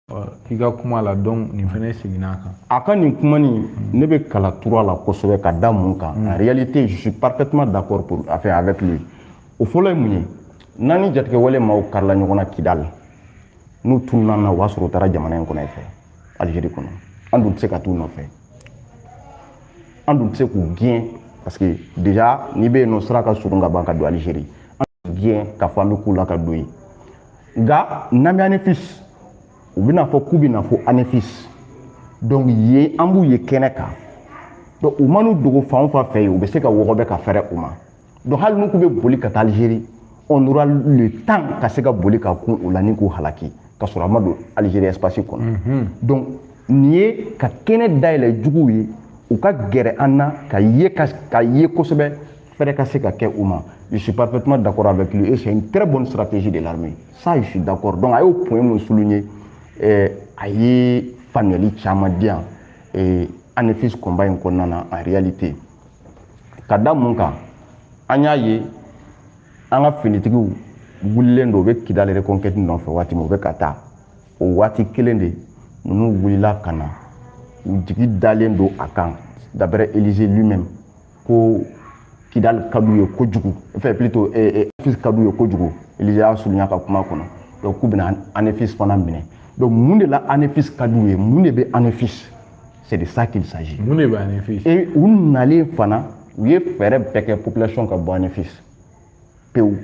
i ka kuma la donc nin fana seginna a kan a ka nin kuma nin ne bɛ kala turu a la kosɛbɛ ka da mun kan en réalité je suis parfaitement d'accord pour enfin avec lui o fɔlɔ ye mun ye n'an ni jatigɛwale maaw karila ɲɔgɔn na Kidal n'u tununa na o b'a sɔrɔ u taara jamana in kɔnɔ fɛ algérie kɔnɔ an dun tɛ se ka t'u nɔfɛ an dun tɛ se k'u gɛn parce que déjà n'i bɛ yen nɔ sira ka surun ka ban ka don algérie an gɛn k'a fɔ an bɛ k'u la ka don yen nka n'an bɛ anefisi u bɛna fɔ k'u bɛna fɔ anefisi donc yen an b'u ye kɛnɛ kan donc u man'u dogo fan o fan fɛ yen u bɛ se ka wɔgɔbɛ ka fɛrɛ u ma donc hali n'u k'u bɛ boli ka taa alizeri on aura le temps ka se ka boli ka kun u la ni k'u halaki ka sɔrɔ a ma don alizeri espace kɔnɔ mhm. donc nin ye ka kɛnɛ dayɛlɛ juguw ye u ka gɛrɛ an na ka ye kosɛbɛ fɛrɛ ka se ka kɛ u ma je suis parfaitement d'accord avec lui et c'est une très bonne stratégie de l'armée ça je suis d'accord donc a y'o point mun souligner eh, a ye faamuyali caman di yan eh, anefis combat in kɔnɔna na en réalité ka da mun kan an y'a ye an ka finitigiw wulilen don u bɛ kidali reconquête nɔfɛ waati min u bɛ ka taa o waati kelen de ninnu wulila ka na u jigi dalen don a kan d'après elija lui-même ko kidali ka d'u ye kojugu enfin plutôt anefis ka d'u ye kojugu elija y'a souligner a ka kuma kɔnɔ donc k'u bɛna anefis fana minɛ donc mun de la anefis ka d'u ye mun de bɛ anefis c'est de ça qu'il s'agit mun de bɛ anefis et u nalen fana u ye fɛɛrɛ bɛɛ kɛ population ka bɔ anefis pewu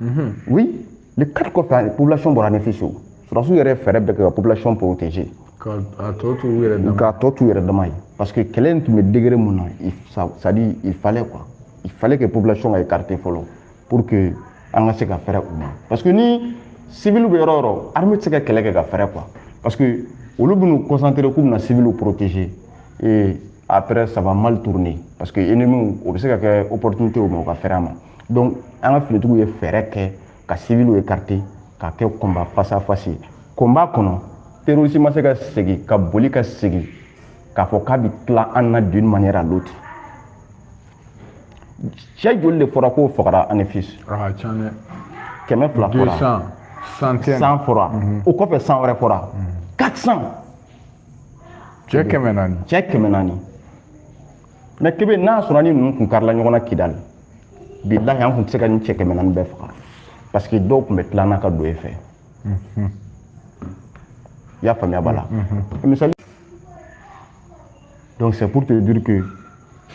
mhm. oui le 4 kɔfɛ a population bɔra anefis o sɔrɔsiw yɛrɛ fɛɛrɛ bɛɛ kɛ ka population protéger k'a tɔ to u yɛrɛ dama k'a tɔ to u yɛrɛ dama ye parce que kɛlɛ in tun bɛ degré mun na c'est à dire il fallait quoi il fallait que population ka écarter fɔlɔ pour que an ka se ka fɛrɛ u ma parce que ni civil bɛ yɔrɔ yɔrɔ armée tɛ se ka kɛlɛ kɛ ka fɛrɛ quoi parce que olu bɛn'u concentrer k'u bɛna civil protéger ee après ça va mal tourner parce que ennemi o bɛ se ka kɛ opportunité u ma u ka fɛrɛ a ma donc an ka finitigiw ye fɛɛrɛ kɛ ka civiliw écarter k'a kɛ combat face à face combat kɔnɔ terroriste ma se ka segin ka boli ka segin k'a fɔ k'a bɛ tila an na d'une manière à l'autre cɛ joli de fɔra k'o fagara anefis kɛmɛ fila fɔra 100 fɔra o kɔfɛ 100 wɛrɛ fɔra 400 cɛ kɛmɛ naani cɛ kɛmɛ naani mais kebe n'a sɔrɔ ni ninnu kun karila ɲɔgɔn na kidali bilahi an kun tɛ se ka nin cɛ kɛmɛ naani bɛɛ faga parce que dɔw kun bɛ tila an na ka don e fɛ mhm. i y'a faamuya b'a la mhm. misali donc c'est pour te dire que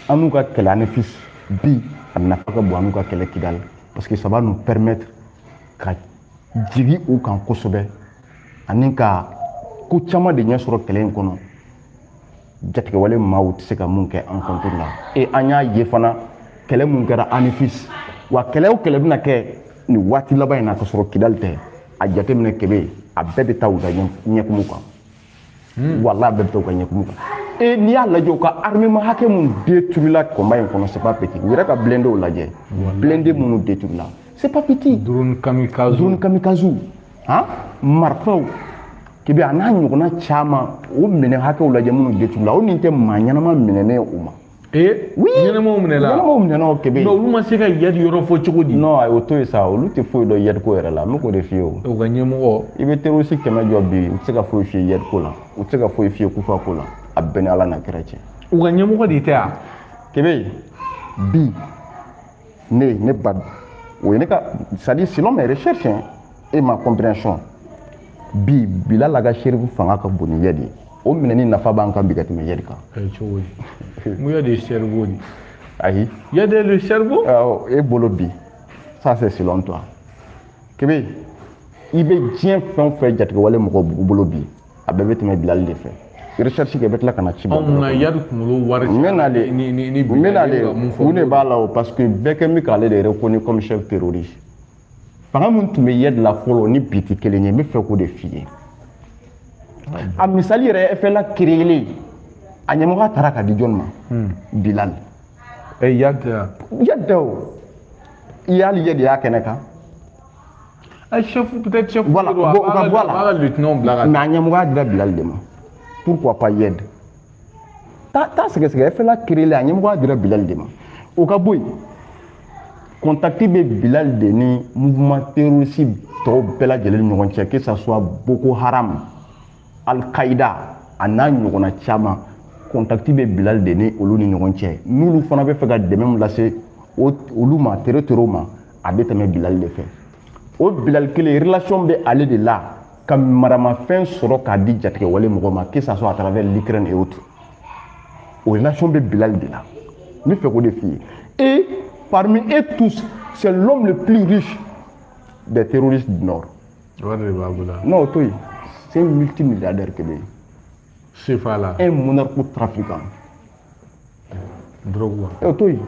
an n'u ka kɛlɛ anefis bi a nafa ka bon an n'u ka kɛlɛ kidali parce que ça va nous permettre ka jigin u kan kosɛbɛ ani ka ko caman de ɲɛ sɔrɔ kɛlɛ in kɔnɔ jatigɛwale maaw tɛ se ka mun kɛ an contre la et an y'a ye fana kɛlɛ mun kɛra anefis wa kɛlɛ o kɛlɛ bɛna kɛ nin waati laban in na ka sɔrɔ kidali tɛ a jateminɛ kebe a bɛɛ bɛ taa u ka ɲɛkumu kan Hmm. Wala bɛɛ bɛ to ka ɲɛkumu kan e n'i y'a lajɛ u ka armement hakɛ minnu détruira combat in kɔnɔ c'est pas petit u yɛrɛ ka blindés lajɛ blindés minnu détruira c'est pas petit drone kamikaze drone kamikaze han marifaw kebe a n'a ɲɔgɔnna caman o minɛ hakɛw lajɛ minnu détruira o nin tɛ maa ɲɛnama minɛnen ye o ma Eh, oui ɲɛnamaw minɛla ɲɛnamaw minɛna o kebe olu ma se ka yadi yɔrɔ fɔ cogo di non o to yen sa olu tɛ foyi dɔn yadi ko yɛrɛ la n bɛ k'o de f'i ye u ka ɲɛmɔgɔ i bɛ terroriste kɛmɛ jɔ bi u tɛ se ka foyi f'i ye yadi ko la u tɛ se ka foyi f'i ye kufa ko la a bɛɛ ni ala n'a kira cɛ u ka ɲɛmɔgɔ de tɛ yan kebe bi ne ne ba o ye ne ka c'est à dire selon mes recherches et ma compréhension bi bilali ag sherifu fanga ka bon ni yadi ye o minɛni nafa b'an kan bi ka tɛmɛ yadi kan cogo di mun yadi ye cerveau de ayi yadi le cerveau awɔ e bolo bi ça c'est selon toi kebe i bɛ diɲɛ fɛn o fɛn jatigɛwale mɔgɔ bolo bi a bɛɛ bɛ tɛmɛ bilali de fɛ recherche kɛ bɛ tila ka na ci bɔ mun na yadi kunkolo wari n bɛna le n bɛna le mun de b'a la o parce que bɛɛ kɛ bɛ k'ale de reconnu comme chef terroriste fanga min tun bɛ yadi la fɔlɔ ni bi tɛ kelen ye n bɛ fɛ k'o de f'i ye a misali yɛrɛ fla créélen a ɲɛmɔgɔya taara ka di jɔn ma hmm. bilali yadi yadi o i y'ale yadi y'a kɛnɛ kan chef peut-être chef voilà o ka bɔ a la mais a ɲɛmɔgɔya dira bilali de ma pourquoi pas yadi taa t'a sɛgɛsɛgɛ fla créélen a ɲɛmɔgɔya dira bilali de ma o ka bɔ yen contact bɛ bilali de ni mouvement terroriste tɔw bɛɛ lajɛlen ni ɲɔgɔn cɛ que ça soit boko haram al qaida a n'a ɲɔgɔnna caman contact bɛ bilali de ni olu ni ɲɔgɔn cɛ n'olu fana bɛ fɛ ka dɛmɛ min lase olu ma terroriste ma a bɛ tɛmɛ bilali de fɛ o bilali kelen relation bɛ ale de la ka maramafɛn sɔrɔ k'a di jatigɛwale mɔgɔ ma que ça soit à travers l'Ukraine et autres o relation bɛ bilali de la n bɛ fɛ k'o de f'i ye et parmi eux tous c'est l'homme le plus riche des terroristes du nord. wari de b'a bolo. non o to yen c'est un multimilliardaire kebe. Sefa la. E un narcotrafiquant. Dɔrɔgu wa. E to yen.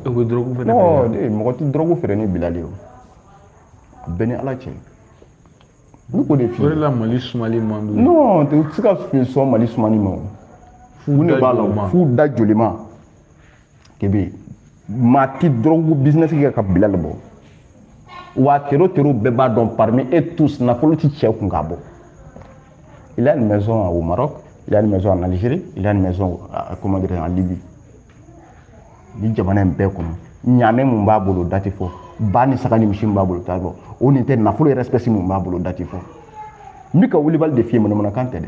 E ko dɔrɔgu fɛnɛ. Ɔ de mɔgɔ tɛ dɔrɔgu feere ni bilali ye o. A bɛɛ ni ala cɛ. N bɛ k'o de f'i ye. O de la mali sumani man di. Non tɛ se ka fi sɔn mali sumani ma o. Fu da jolima. Fu da jolima. Kebe maa ti dɔrɔgu bizinɛsi kɛ ka Bilal bɔ wa tero tero bɛɛ b'a dɔn parmi eux tous nafolo ti cɛ kun k'a bɔ il a une maison au Maroc il a une maison en Algérie il a une maison à, comment dire en Libye ni jamana in bɛɛ kɔnɔ ɲaamɛ mun b'a bolo da tɛ fɔ ba ni saga ni misi mun b'a bolo t'a fɔ o nin tɛ nafolo yɛrɛ espèce mun b'a bolo da tɛ fɔ n bɛ ka wulibali de f'i ye manamanakan tɛ dɛ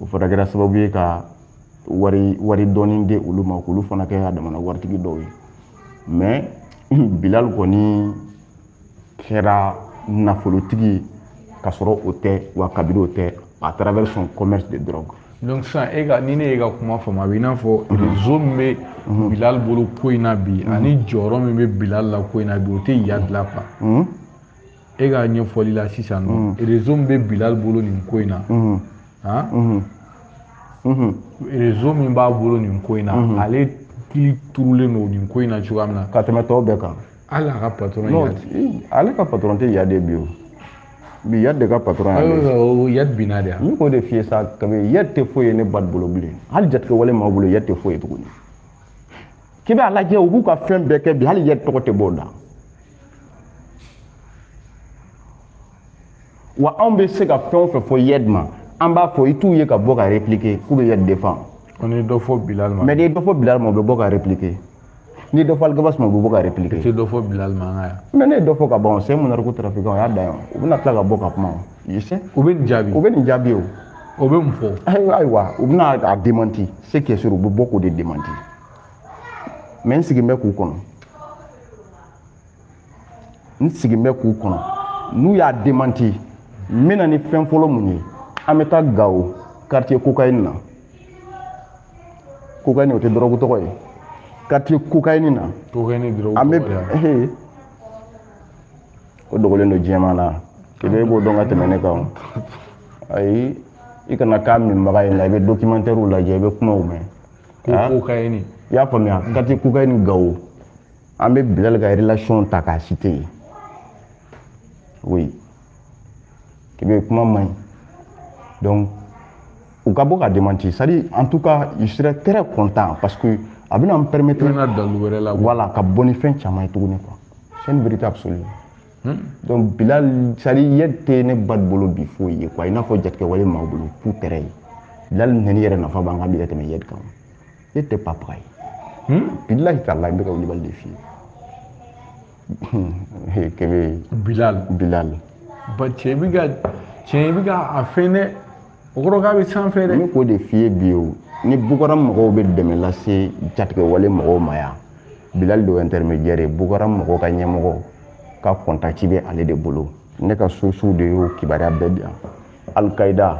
o fana kɛra sababu ye ka wari wari dɔɔni di olu ma k'olu fana kɛ a damana waritigi dɔw ye mais Bilal kɔni kɛra nafolotigi ka sɔrɔ o tɛ wa kabiri o tɛ à travers son commerce de drogue donc sisan e ka ni ne y'e ka kuma faamu a bɛ i n'a fɔ réseau min bɛ Bilal bolo ko in na bi ani jɔyɔrɔ min bɛ Bilal la ko in na bi o tɛ Iyad la quoi e ka ɲɛfɔli la sisan nɔ réseau min bɛ Bilal bolo nin ko in na han réseau min b'a bolo nin ko in na ale kili turulen don nin ko in na cogoya min na ka tɛmɛ tɔw bɛɛ kan hali a ka patɔrɔn Iyad ale ka patɔrɔn tɛ Iyad bi o bi Iyad de ka patɔrɔn y'ale Iyad binna de yan ne k'o de f'i ye sa kabi Iyad tɛ foyi ye ne ba bolo bilen hali jatigɛwale maaw bolo Iyad tɛ foyi ye tuguni k'i b'a lajɛ u b'u ka fɛn bɛɛ kɛ bi hali Iyad tɔgɔ tɛ b'o la wa anw bɛ se ka fɛn o fɛn fɔ Iyad ma an b'a fɔ i t'u ye ka bɔ ka répliquer k'u bɛ Iyad défend mais n'i ye dɔ fɔ Bilal ma o bɛ bɔ ka répliquer n'i dɔ fɔ Alghabass ma o bɛ bɔ ka répliquer i tɛ dɔ fɔ Bilal ma an ka yan mais ne ye dɔ fɔ ka ban o c'est un narcotrafiquant o y'a dan yan u bɛna tila ka bɔ ka kuma o se u bɛ nin jaabi u bɛ nin jaabi o o bɛ mun fɔ ayiwa ayiwa u bɛna a démenti ce qui est sûr u bɛ bɔ k'o de démenti mais n sigin bɛ k'u kɔnɔ n sigin bɛ k'u kɔnɔ n'u y'a démenti n bɛ na ni fɛn fɔlɔ mun ye an bɛ taa Gao quartier cocaïne na cocaïne o tɛ dɔrɔgu tɔgɔ ye quartier cocaïne na an bɛ o dogolen don diɲɛma na Kebe e b'o dɔn ka tɛmɛ ne kan ayi i kana k'a minbaga ye nka i bɛ documentaire lajɛ i bɛ kumaw mɛn ko ah. cocaïne i y'a faamuya quartier cocaïne Gao an bɛ Bilal ka relation ta k'a citer yen oui Kebe kuma man ɲi donc u ka bɔ ka démenti c'est-à-dire en tout cas je serais très content parce que a bɛna n permettre voilà ka bɔ ni fɛn caman ye tuguni quoi c'est une vérité absolue Hmm? Donc Bilal c'est-à-dire Iyad tɛ ne ba bolo bi foyi ye quoi i n'a fɔ jatigɛwale maaw bolo k'u tɛrɛ ye Bilal nɛni yɛrɛ nafa b'an kan bi ka tɛmɛ Iyad kan Iyad tɛ papa ye hmm? billahi taala n bɛ ka wulibali de f'i ye Kebe Bilal Bilal ba cɛ bɛ ka cɛ bɛ ka a fɛn dɛ o kɔrɔ k'a bɛ sanfɛ dɛ ne k'o de f'i ye bi o ni boko haram mɔgɔw bɛ dɛmɛ lase jatigɛwale mɔgɔw ma yan bilali de y'o intermédiaire ye boko haram mɔgɔw ka ɲɛmɔgɔ ka contact bɛ ale de bolo ne ka sources de y'o kibaruya bɛɛ di yan alikaida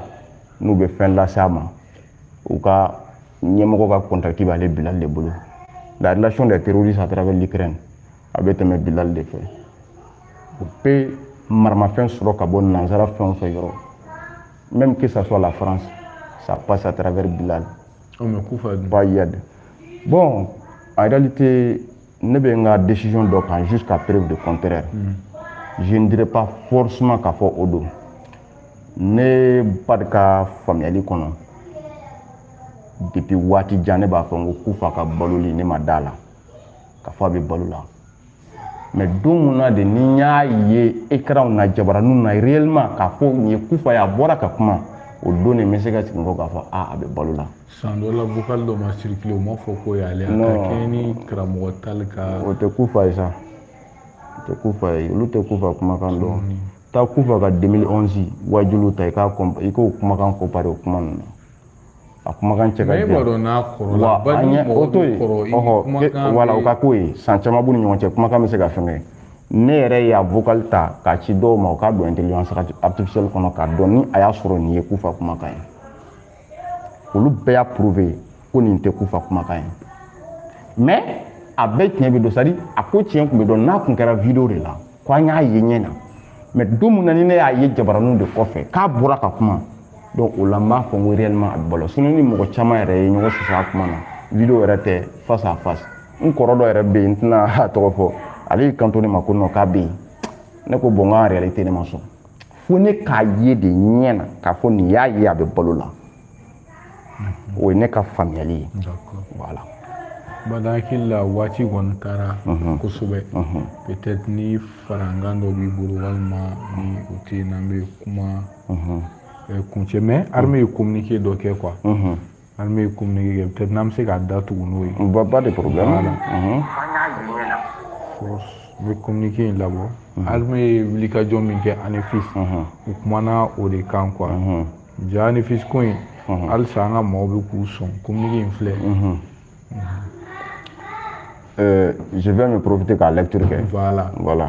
n'u bɛ fɛn lase a ma u ka ɲɛmɔgɔ ka contact b'ale bilali de bolo la relation des terroristes à travers l'Ukraine a bɛ tɛmɛ bilali de fɛ u bɛ maramafɛn sɔrɔ ka bɔ nanzara fɛnw fɛ yɔrɔ même que ça soit la France ça passe à travers bilali oh, mais kufa pas iyad bon en réalité ne bɛ n ka décision dɔ kan jusqu'à preuve de contraire mm. je ne dirais pas forcément k'a fɔ o don ne bada ka faamuyali kɔnɔ depuis waati jan ne b'a fɔ n ko kufa ka baloli ne ma d'a la k'a fɔ a bɛ balo la mais don min na de ni n y'a ye écranw na jabaraninw na réellement k'a fɔ nin ye kufa ye a bɔra ka kuma o don de n bɛ se ka sigi kɔ k'a fɔ a a bɛ balo la san dɔ la vocal dɔ ma circuler o ma fɔ ko y'ale a ka kɛɲɛ ni karamɔgɔ tali ka o tɛ kufa ye sa o tɛ kufa ye olu tɛ kufa kumakan dɔn mm. taa kufa ka 2011 wajuliw ta i k'o kumakan comparer o kuma ninnu na a kumakan cɛ ka jan wa an ɲɛ o to yen ɔhɔ voilà o ka k'o ye san caman b'u ni ɲɔgɔn cɛ kumakan bɛ se ka fɛngɛ ne yɛrɛ y'a vocal ta k'a ci dɔw ma u k'a don intelligence artificielle kɔnɔ k'a dɔn ni a y'a sɔrɔ nin ye kufa kumakan ye olu bɛɛ y'a prouver ko nin tɛ kufa kumakan ye mais a bɛɛ tiɲɛ bɛ dɔn c'est-à-dire a ko tiɲɛ tun bɛ dɔn n'a tun kɛra vidéo de la ko an y'a ye ɲɛ na mais don min na ni ne y'a ye jabaraninw de kɔfɛ k'a bɔra ka kuma donc o la n b'a fɔ n ko réellement a bɛ balo sinon ni mɔgɔ caman yɛrɛ ye ɲɔgɔn sɔsɔ a kuma na vidéo yɛrɛ tɛ face à face n kɔrɔ dɔ yɛrɛ bɛ yen n tɛna a tɔgɔ fɔ ale y'i kanto ne ma ko non k'a bɛ yen ne ko bon n ka réalité ne ma sɔn fo ne k'a ye de ɲɛ na k'a fɔ nin y'a ye a bɛ balo la o ye ne ka faamuyali ye voilà bada hakili la waati kɔni taara kosɛbɛ peut-être ni farankan dɔ b'i bolo walima ni o tɛ yen n'an bɛ kuma kuncɛ mais armée ye communiqué dɔ kɛ quoi armée ye communiqué kɛ peut-être n'an bɛ se k'a da tugu n'o ye pas de problème la n bɛ communiqué in labɔ armée ye wulikajɔ min kɛ anefis u kumana o de kan quoi ja anefis ko in halisa an ka mɔgɔw bɛ k'u sɔn communiqué in filɛ je vais me profiter k'a lecture kɛ voilà voilà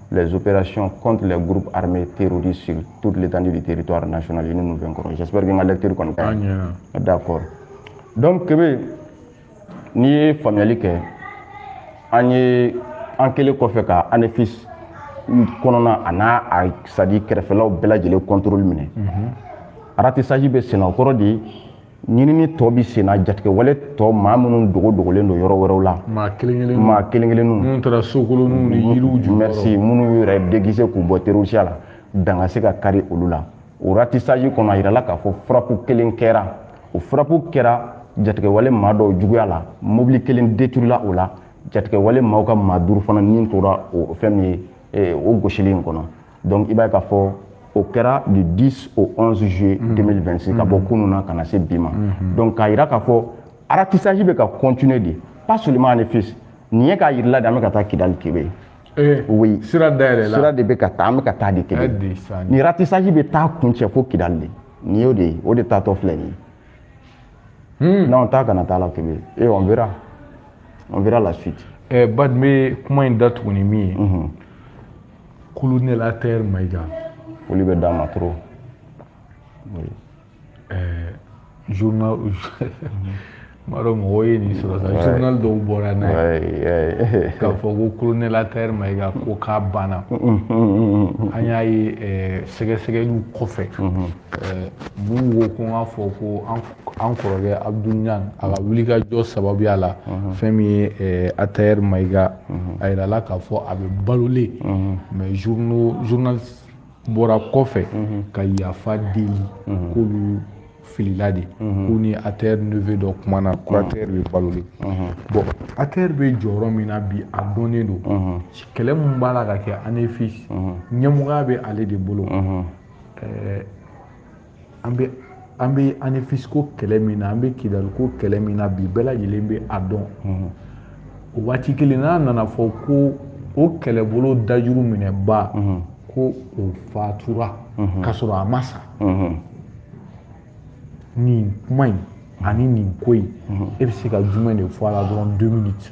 les opérations contre les groupes armés terroristes sur toute l'étendue du territoire national unis nous vaincrons j'espère que n ka lecture kɔni ka ɲi d'accord donc kebe n'i ye faamuyali kɛ an ye an kɛlen kɔfɛ ka anefis kɔnɔna a n'a a c'est-à-dire kɛrɛfɛlaw bɛɛ lajɛlen contrôle minɛ mhm. ratissage bɛ senna o kɔrɔ de ɲinini tɔ bɛ senna jatigɛwale tɔ maa minnu dogo dogolen don yɔrɔ wɛrɛw la maa kelen-kelennu maa kelen-kelennu minnu taara sokolonninw ni yiriw jukɔrɔ merci minnu yɛrɛ déguiser k'u bɔ terosiya la dan ka se ka kari olu la o ratissage kɔnɔ a yirala k'a fɔ frappe kelen kɛra o frappe kɛra jatigɛwale maa dɔw juguya la mobili kelen détruira o la jatigɛwale maaw ka maa duuru fana ni tora o fɛn min ye o gosili in kɔnɔ donc i b'a ye k'a fɔ o kɛra du 10 au 11 juillet 2026 mhm. ka bɔ mhm. kunun na ka na se bi ma mhm. donc k'a jira k'a fɔ ratissage bɛ ka continuer de pas seulement anefis nin ye k'a jirala de an bɛ ka taa kidali kebe eh, oui sira dayɛlɛla sira de bɛ ka taa an bɛ ka taa de kebe nin ratissage bɛ taa kuncɛ fo kidali de nin y'o de ye o de taatɔ filɛ nin ye n'anw t'a kana taa la kebe et eh, on verra on verra la suite eh, bad n bɛ kuma in datugu ni min ye colonel Atɛr Mayiga. Foli bɛ d'a ma trop. Oui. Ɛɛ journal n b'a dɔn mɔgɔw ye nin sɔrɔ sa journal dɔw bɔra n'a ye k'a fɔ ko colonel Atɛr Mayiga ko k'a banna. An y'a ye ɛɛ sɛgɛsɛgɛliw kɔfɛ. Ɛɛ mun ko ko n k'a fɔ ko an an kɔrɔkɛ abdoul niang a ka wulikajɔ sababuya la fɛn min ye eh, atayɛri mayiga mhm. a yirala k'a fɔ a bɛ balolen mhm. mais journal bɔra kɔfɛ mhm. ka yafa deli k'olu filila de k'u ni atayɛri neveu dɔ kumana ko atayɛri bɛ balolen bon atayɛri bɛ jɔyɔrɔ min na bi a dɔnnen don kɛlɛ min b'a la ka kɛ anefis ɲɛmɔgɔya bɛ ale de bolo eh, an bɛ an bɛ anefisiko kɛlɛ min na an bɛ kidaliko kɛlɛ min na bi bɛɛ lajɛlen bɛ a dɔn o waati kelen n'a nana fɔ ko o kɛlɛbolo dajuru minɛbaa ko o fatura k'a sɔrɔ a ma sa nin kuma in ani nin ko in e bɛ se ka jumɛn de fɔ a la dɔrɔn deux minutes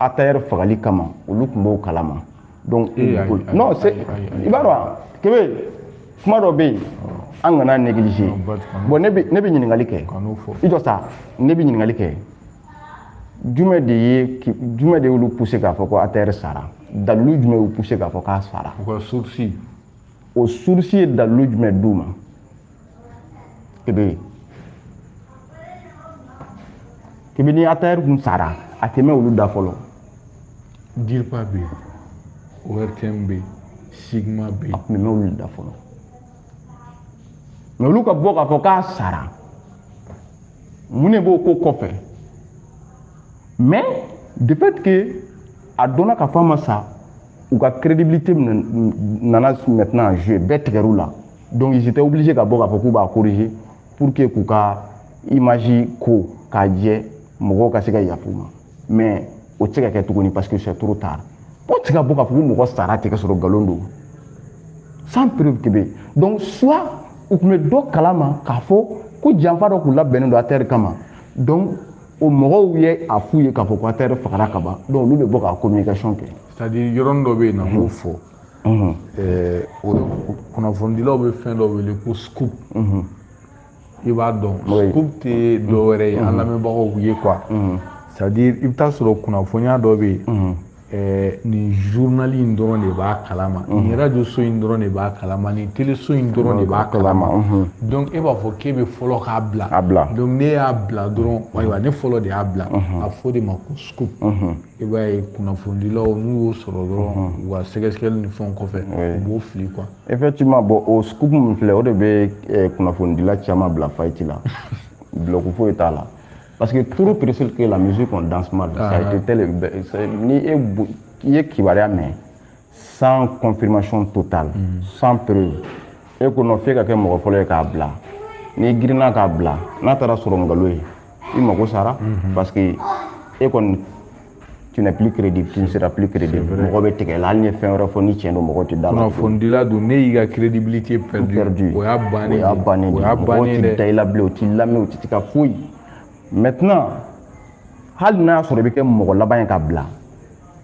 atayɛri fagali kama olu tun b'o kalama donc eh, non c'est i b'a dɔn kebe kuma dɔ bɛ yen an kana négliger bon ne bɛ ne bɛ ɲininkali kɛ i jɔ sa ne bɛ ɲininkali kɛ jumɛn de ye jumɛn de y'olu pousser k'a fɔ ko atayɛri sara dalilu jumɛn y'u pousser k'a fɔ k'a sara u ka source o source ye dalilu jumɛn d'u ma kebe kebe ni atayɛri k'u sara a tɛ mɛn olu da fɔlɔ dirpa bɛ yen ortm bɛ yen cigma bɛ yen a tun bɛ mɛn olu da fɔlɔ mais olu ka bɔ k'a fɔ k'a sara mun de b'o ko kɔfɛ mais de fait que a dɔnna k'a fɔ a ma sa u ka crédibilité nana maintenant en jeu bɛɛ tigɛr'u la donc ils étaient obligés ka bɔ k'a fɔ k'u b'a corriger pour que k'u ka image ko k'a jɛ mɔgɔw ka se ka yafa u ma mais o tɛ se ka kɛ tuguni parce que c'est trop tard o tɛ se ka bɔ k'a fɔ ko mɔgɔ sara tɛ ka sɔrɔ nkalon don sans preuve que bɛ donc soit u tun bɛ dɔ kalama k'a fɔ ko janfa dɔ k'u labɛnnen don atɛri kama donc o mɔgɔw ye a f'u ye k'a fɔ ko atɛri fagara ka ban donc olu bɛ bɔ ka communication kɛ c'est à dire yɔrɔnin dɔ bɛ yen n'an b'o fɔ kunnafonidilaw bɛ fɛn dɔ wele ko scoop i b'a dɔn scoop tɛ dɔ wɛrɛ ye an lamɛnbagaw ye quoi c'est à dire i bɛ taa sɔrɔ kunnafoniya dɔ bɛ yen nin journal in dɔrɔn de b'a kalama nin radio so in dɔrɔn de b'a kalama nin teleso in dɔrɔn de b'a kalama donc e b'a fɔ k'e bɛ fɔlɔ k'a bila donc ne y'a bila dɔrɔn ayiwa ne fɔlɔ de y'a bila a fɔ de ma ko scoop i b'a ye kunnafonidilaw n'u y'o sɔrɔ dɔrɔn mhm. u ka sɛgɛsɛgɛli ni fɛnw kɔfɛ u b'o fili quoi. effectivement bon o scoop min filɛ o de bɛ eh, kunnafonidila caman bila faillite la bulɔku foyi t'a la parce que trop pressé que la musique on danse mal ça a été tel ni e i ye kibaruya mɛn sans confirmation totale mm. sans preuve e ko non f'e ka kɛ mɔgɔ fɔlɔ ye k'a bila n'i girinna k'a bila n'a taara sɔrɔ nkalon ye i mago sara mm-hmm. parce que e kɔni tu n'es plus crédible tu ne seras plus crédible mɔgɔ bɛ tigɛ la hali n'i ye fɛn wɛrɛ fɔ ni tiɲɛ don mɔgɔ tɛ da la kunnafonidila don n'e y'i ka crédibilité perdu o y'a bannen o y'a bannen de mɔgɔw tɛ da i la bilen u t'i lamɛn u tɛ se ka foyi maintenant hali n'a y'a sɔrɔ i bɛ kɛ mɔgɔ laban ye k'a bila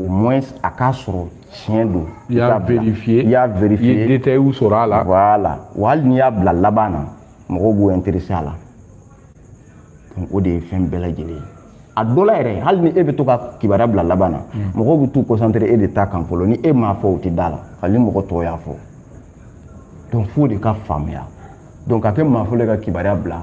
au moins a k'a sɔrɔ tiɲɛ don i y'a vérifier i y'a vérifier i ye détails sɔrɔ a la voilà wa hali n'i y'a bila laban na mɔgɔw b'u intéresser a la donc o de ye fɛn bɛɛ lajɛlen ye a dɔ la yɛrɛ hali ni e bɛ to ka kibaruya bila laban na hmm. mɔgɔw bɛ t'u concentré e de ta kan fɔlɔ ni e m'a fɔ u tɛ da la hali ni mɔgɔ tɔw y'a fɔ donc f'o de ka faamuya donc ka kɛ maa fɔlɔ ye ka kibaruya bila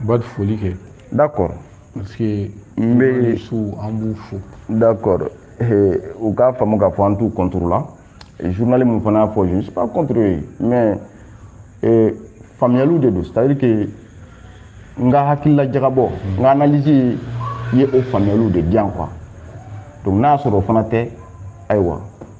u b'a foli kɛ d'accord parce que bien sûr an b'u fo d'accord u k'a faamu k'a fɔ an t'u contre la journal min fana y'a fɔ je ne suis pas contre eux mais faamuyaliw de don c'est à dire que n ka hakilila jagabɔ n ka analyse ye o faamuyaliw de di yan quoi donc n'a y'a sɔrɔ o fana tɛ ayiwa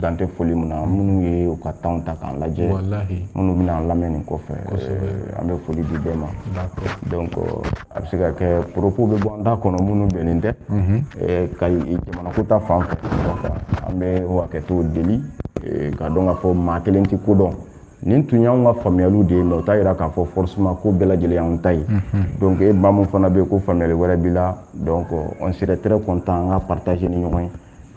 dan tɛ foli min na minnu ye u ka temps ta k'an lajɛ minnu bɛna an lamɛn nin kɔfɛ eh, an bɛ foli di bɛɛ ma donc a bɛ se ka kɛ propos bɛ bɔ an da kɔnɔ minnu bɛnnen tɛ mhm. eh, ka jamanako ta fan fɛ an bɛ o hakɛto deli eh, k'a dɔn k'a fɔ maa kelen tɛ ko dɔn nin tun y'anw ka faamuyaliw de ye mais o t'a yira k'a fɔ forcément ko bɛɛ lajɛlen y'anw ta ye mhm. donc e maa min fana bɛ yen ko faamuyali wɛrɛ b'i la donc on serait très content an k'a partager ni ɲɔgɔn ye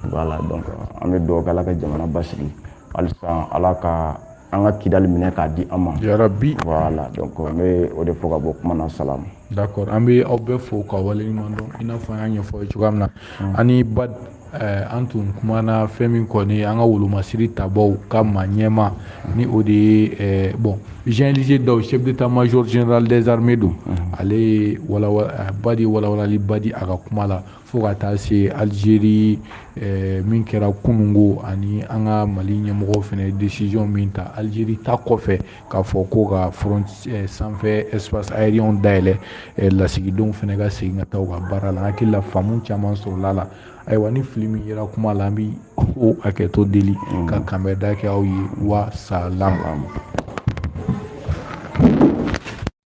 voilà donc an bɛ dugawu kɛ ala ka jamana basigi halisa ala ka an ka kidali minɛ k'a di an ma yarabi voilà donc n bɛ o de fɔ ka bɔ kuma na salamu d'accord an bɛ aw bɛɛ fo ka waleɲumandɔn i n'a fɔ an y'a ɲɛfɔ aw ye cogoya min na hmm. ani bad Eh, an tun kumana fɛn min kɔni an ka wolomasiri tabaw ka maa ɲɛma ni o de ye eh, bon jean élisée daw chef d'état-major général des armées don ale ye walawala ba de ye walawalaliba di a ka kuma la fo ka taa se alizeri min kɛra kununko ani an ka mali ɲɛmɔgɔw fana décision min ta alizeri ta kɔfɛ k'a fɔ ko ka f sanfɛ espace aérien dayɛlɛ lasigidenw fana ka segin ka taa u ka baara la hakilila faamu caman sɔrɔla a la ayiwa ni fili min yera kuma la an bɛ o hakɛto deli ka kanbɛnda kɛ aw ye wa salam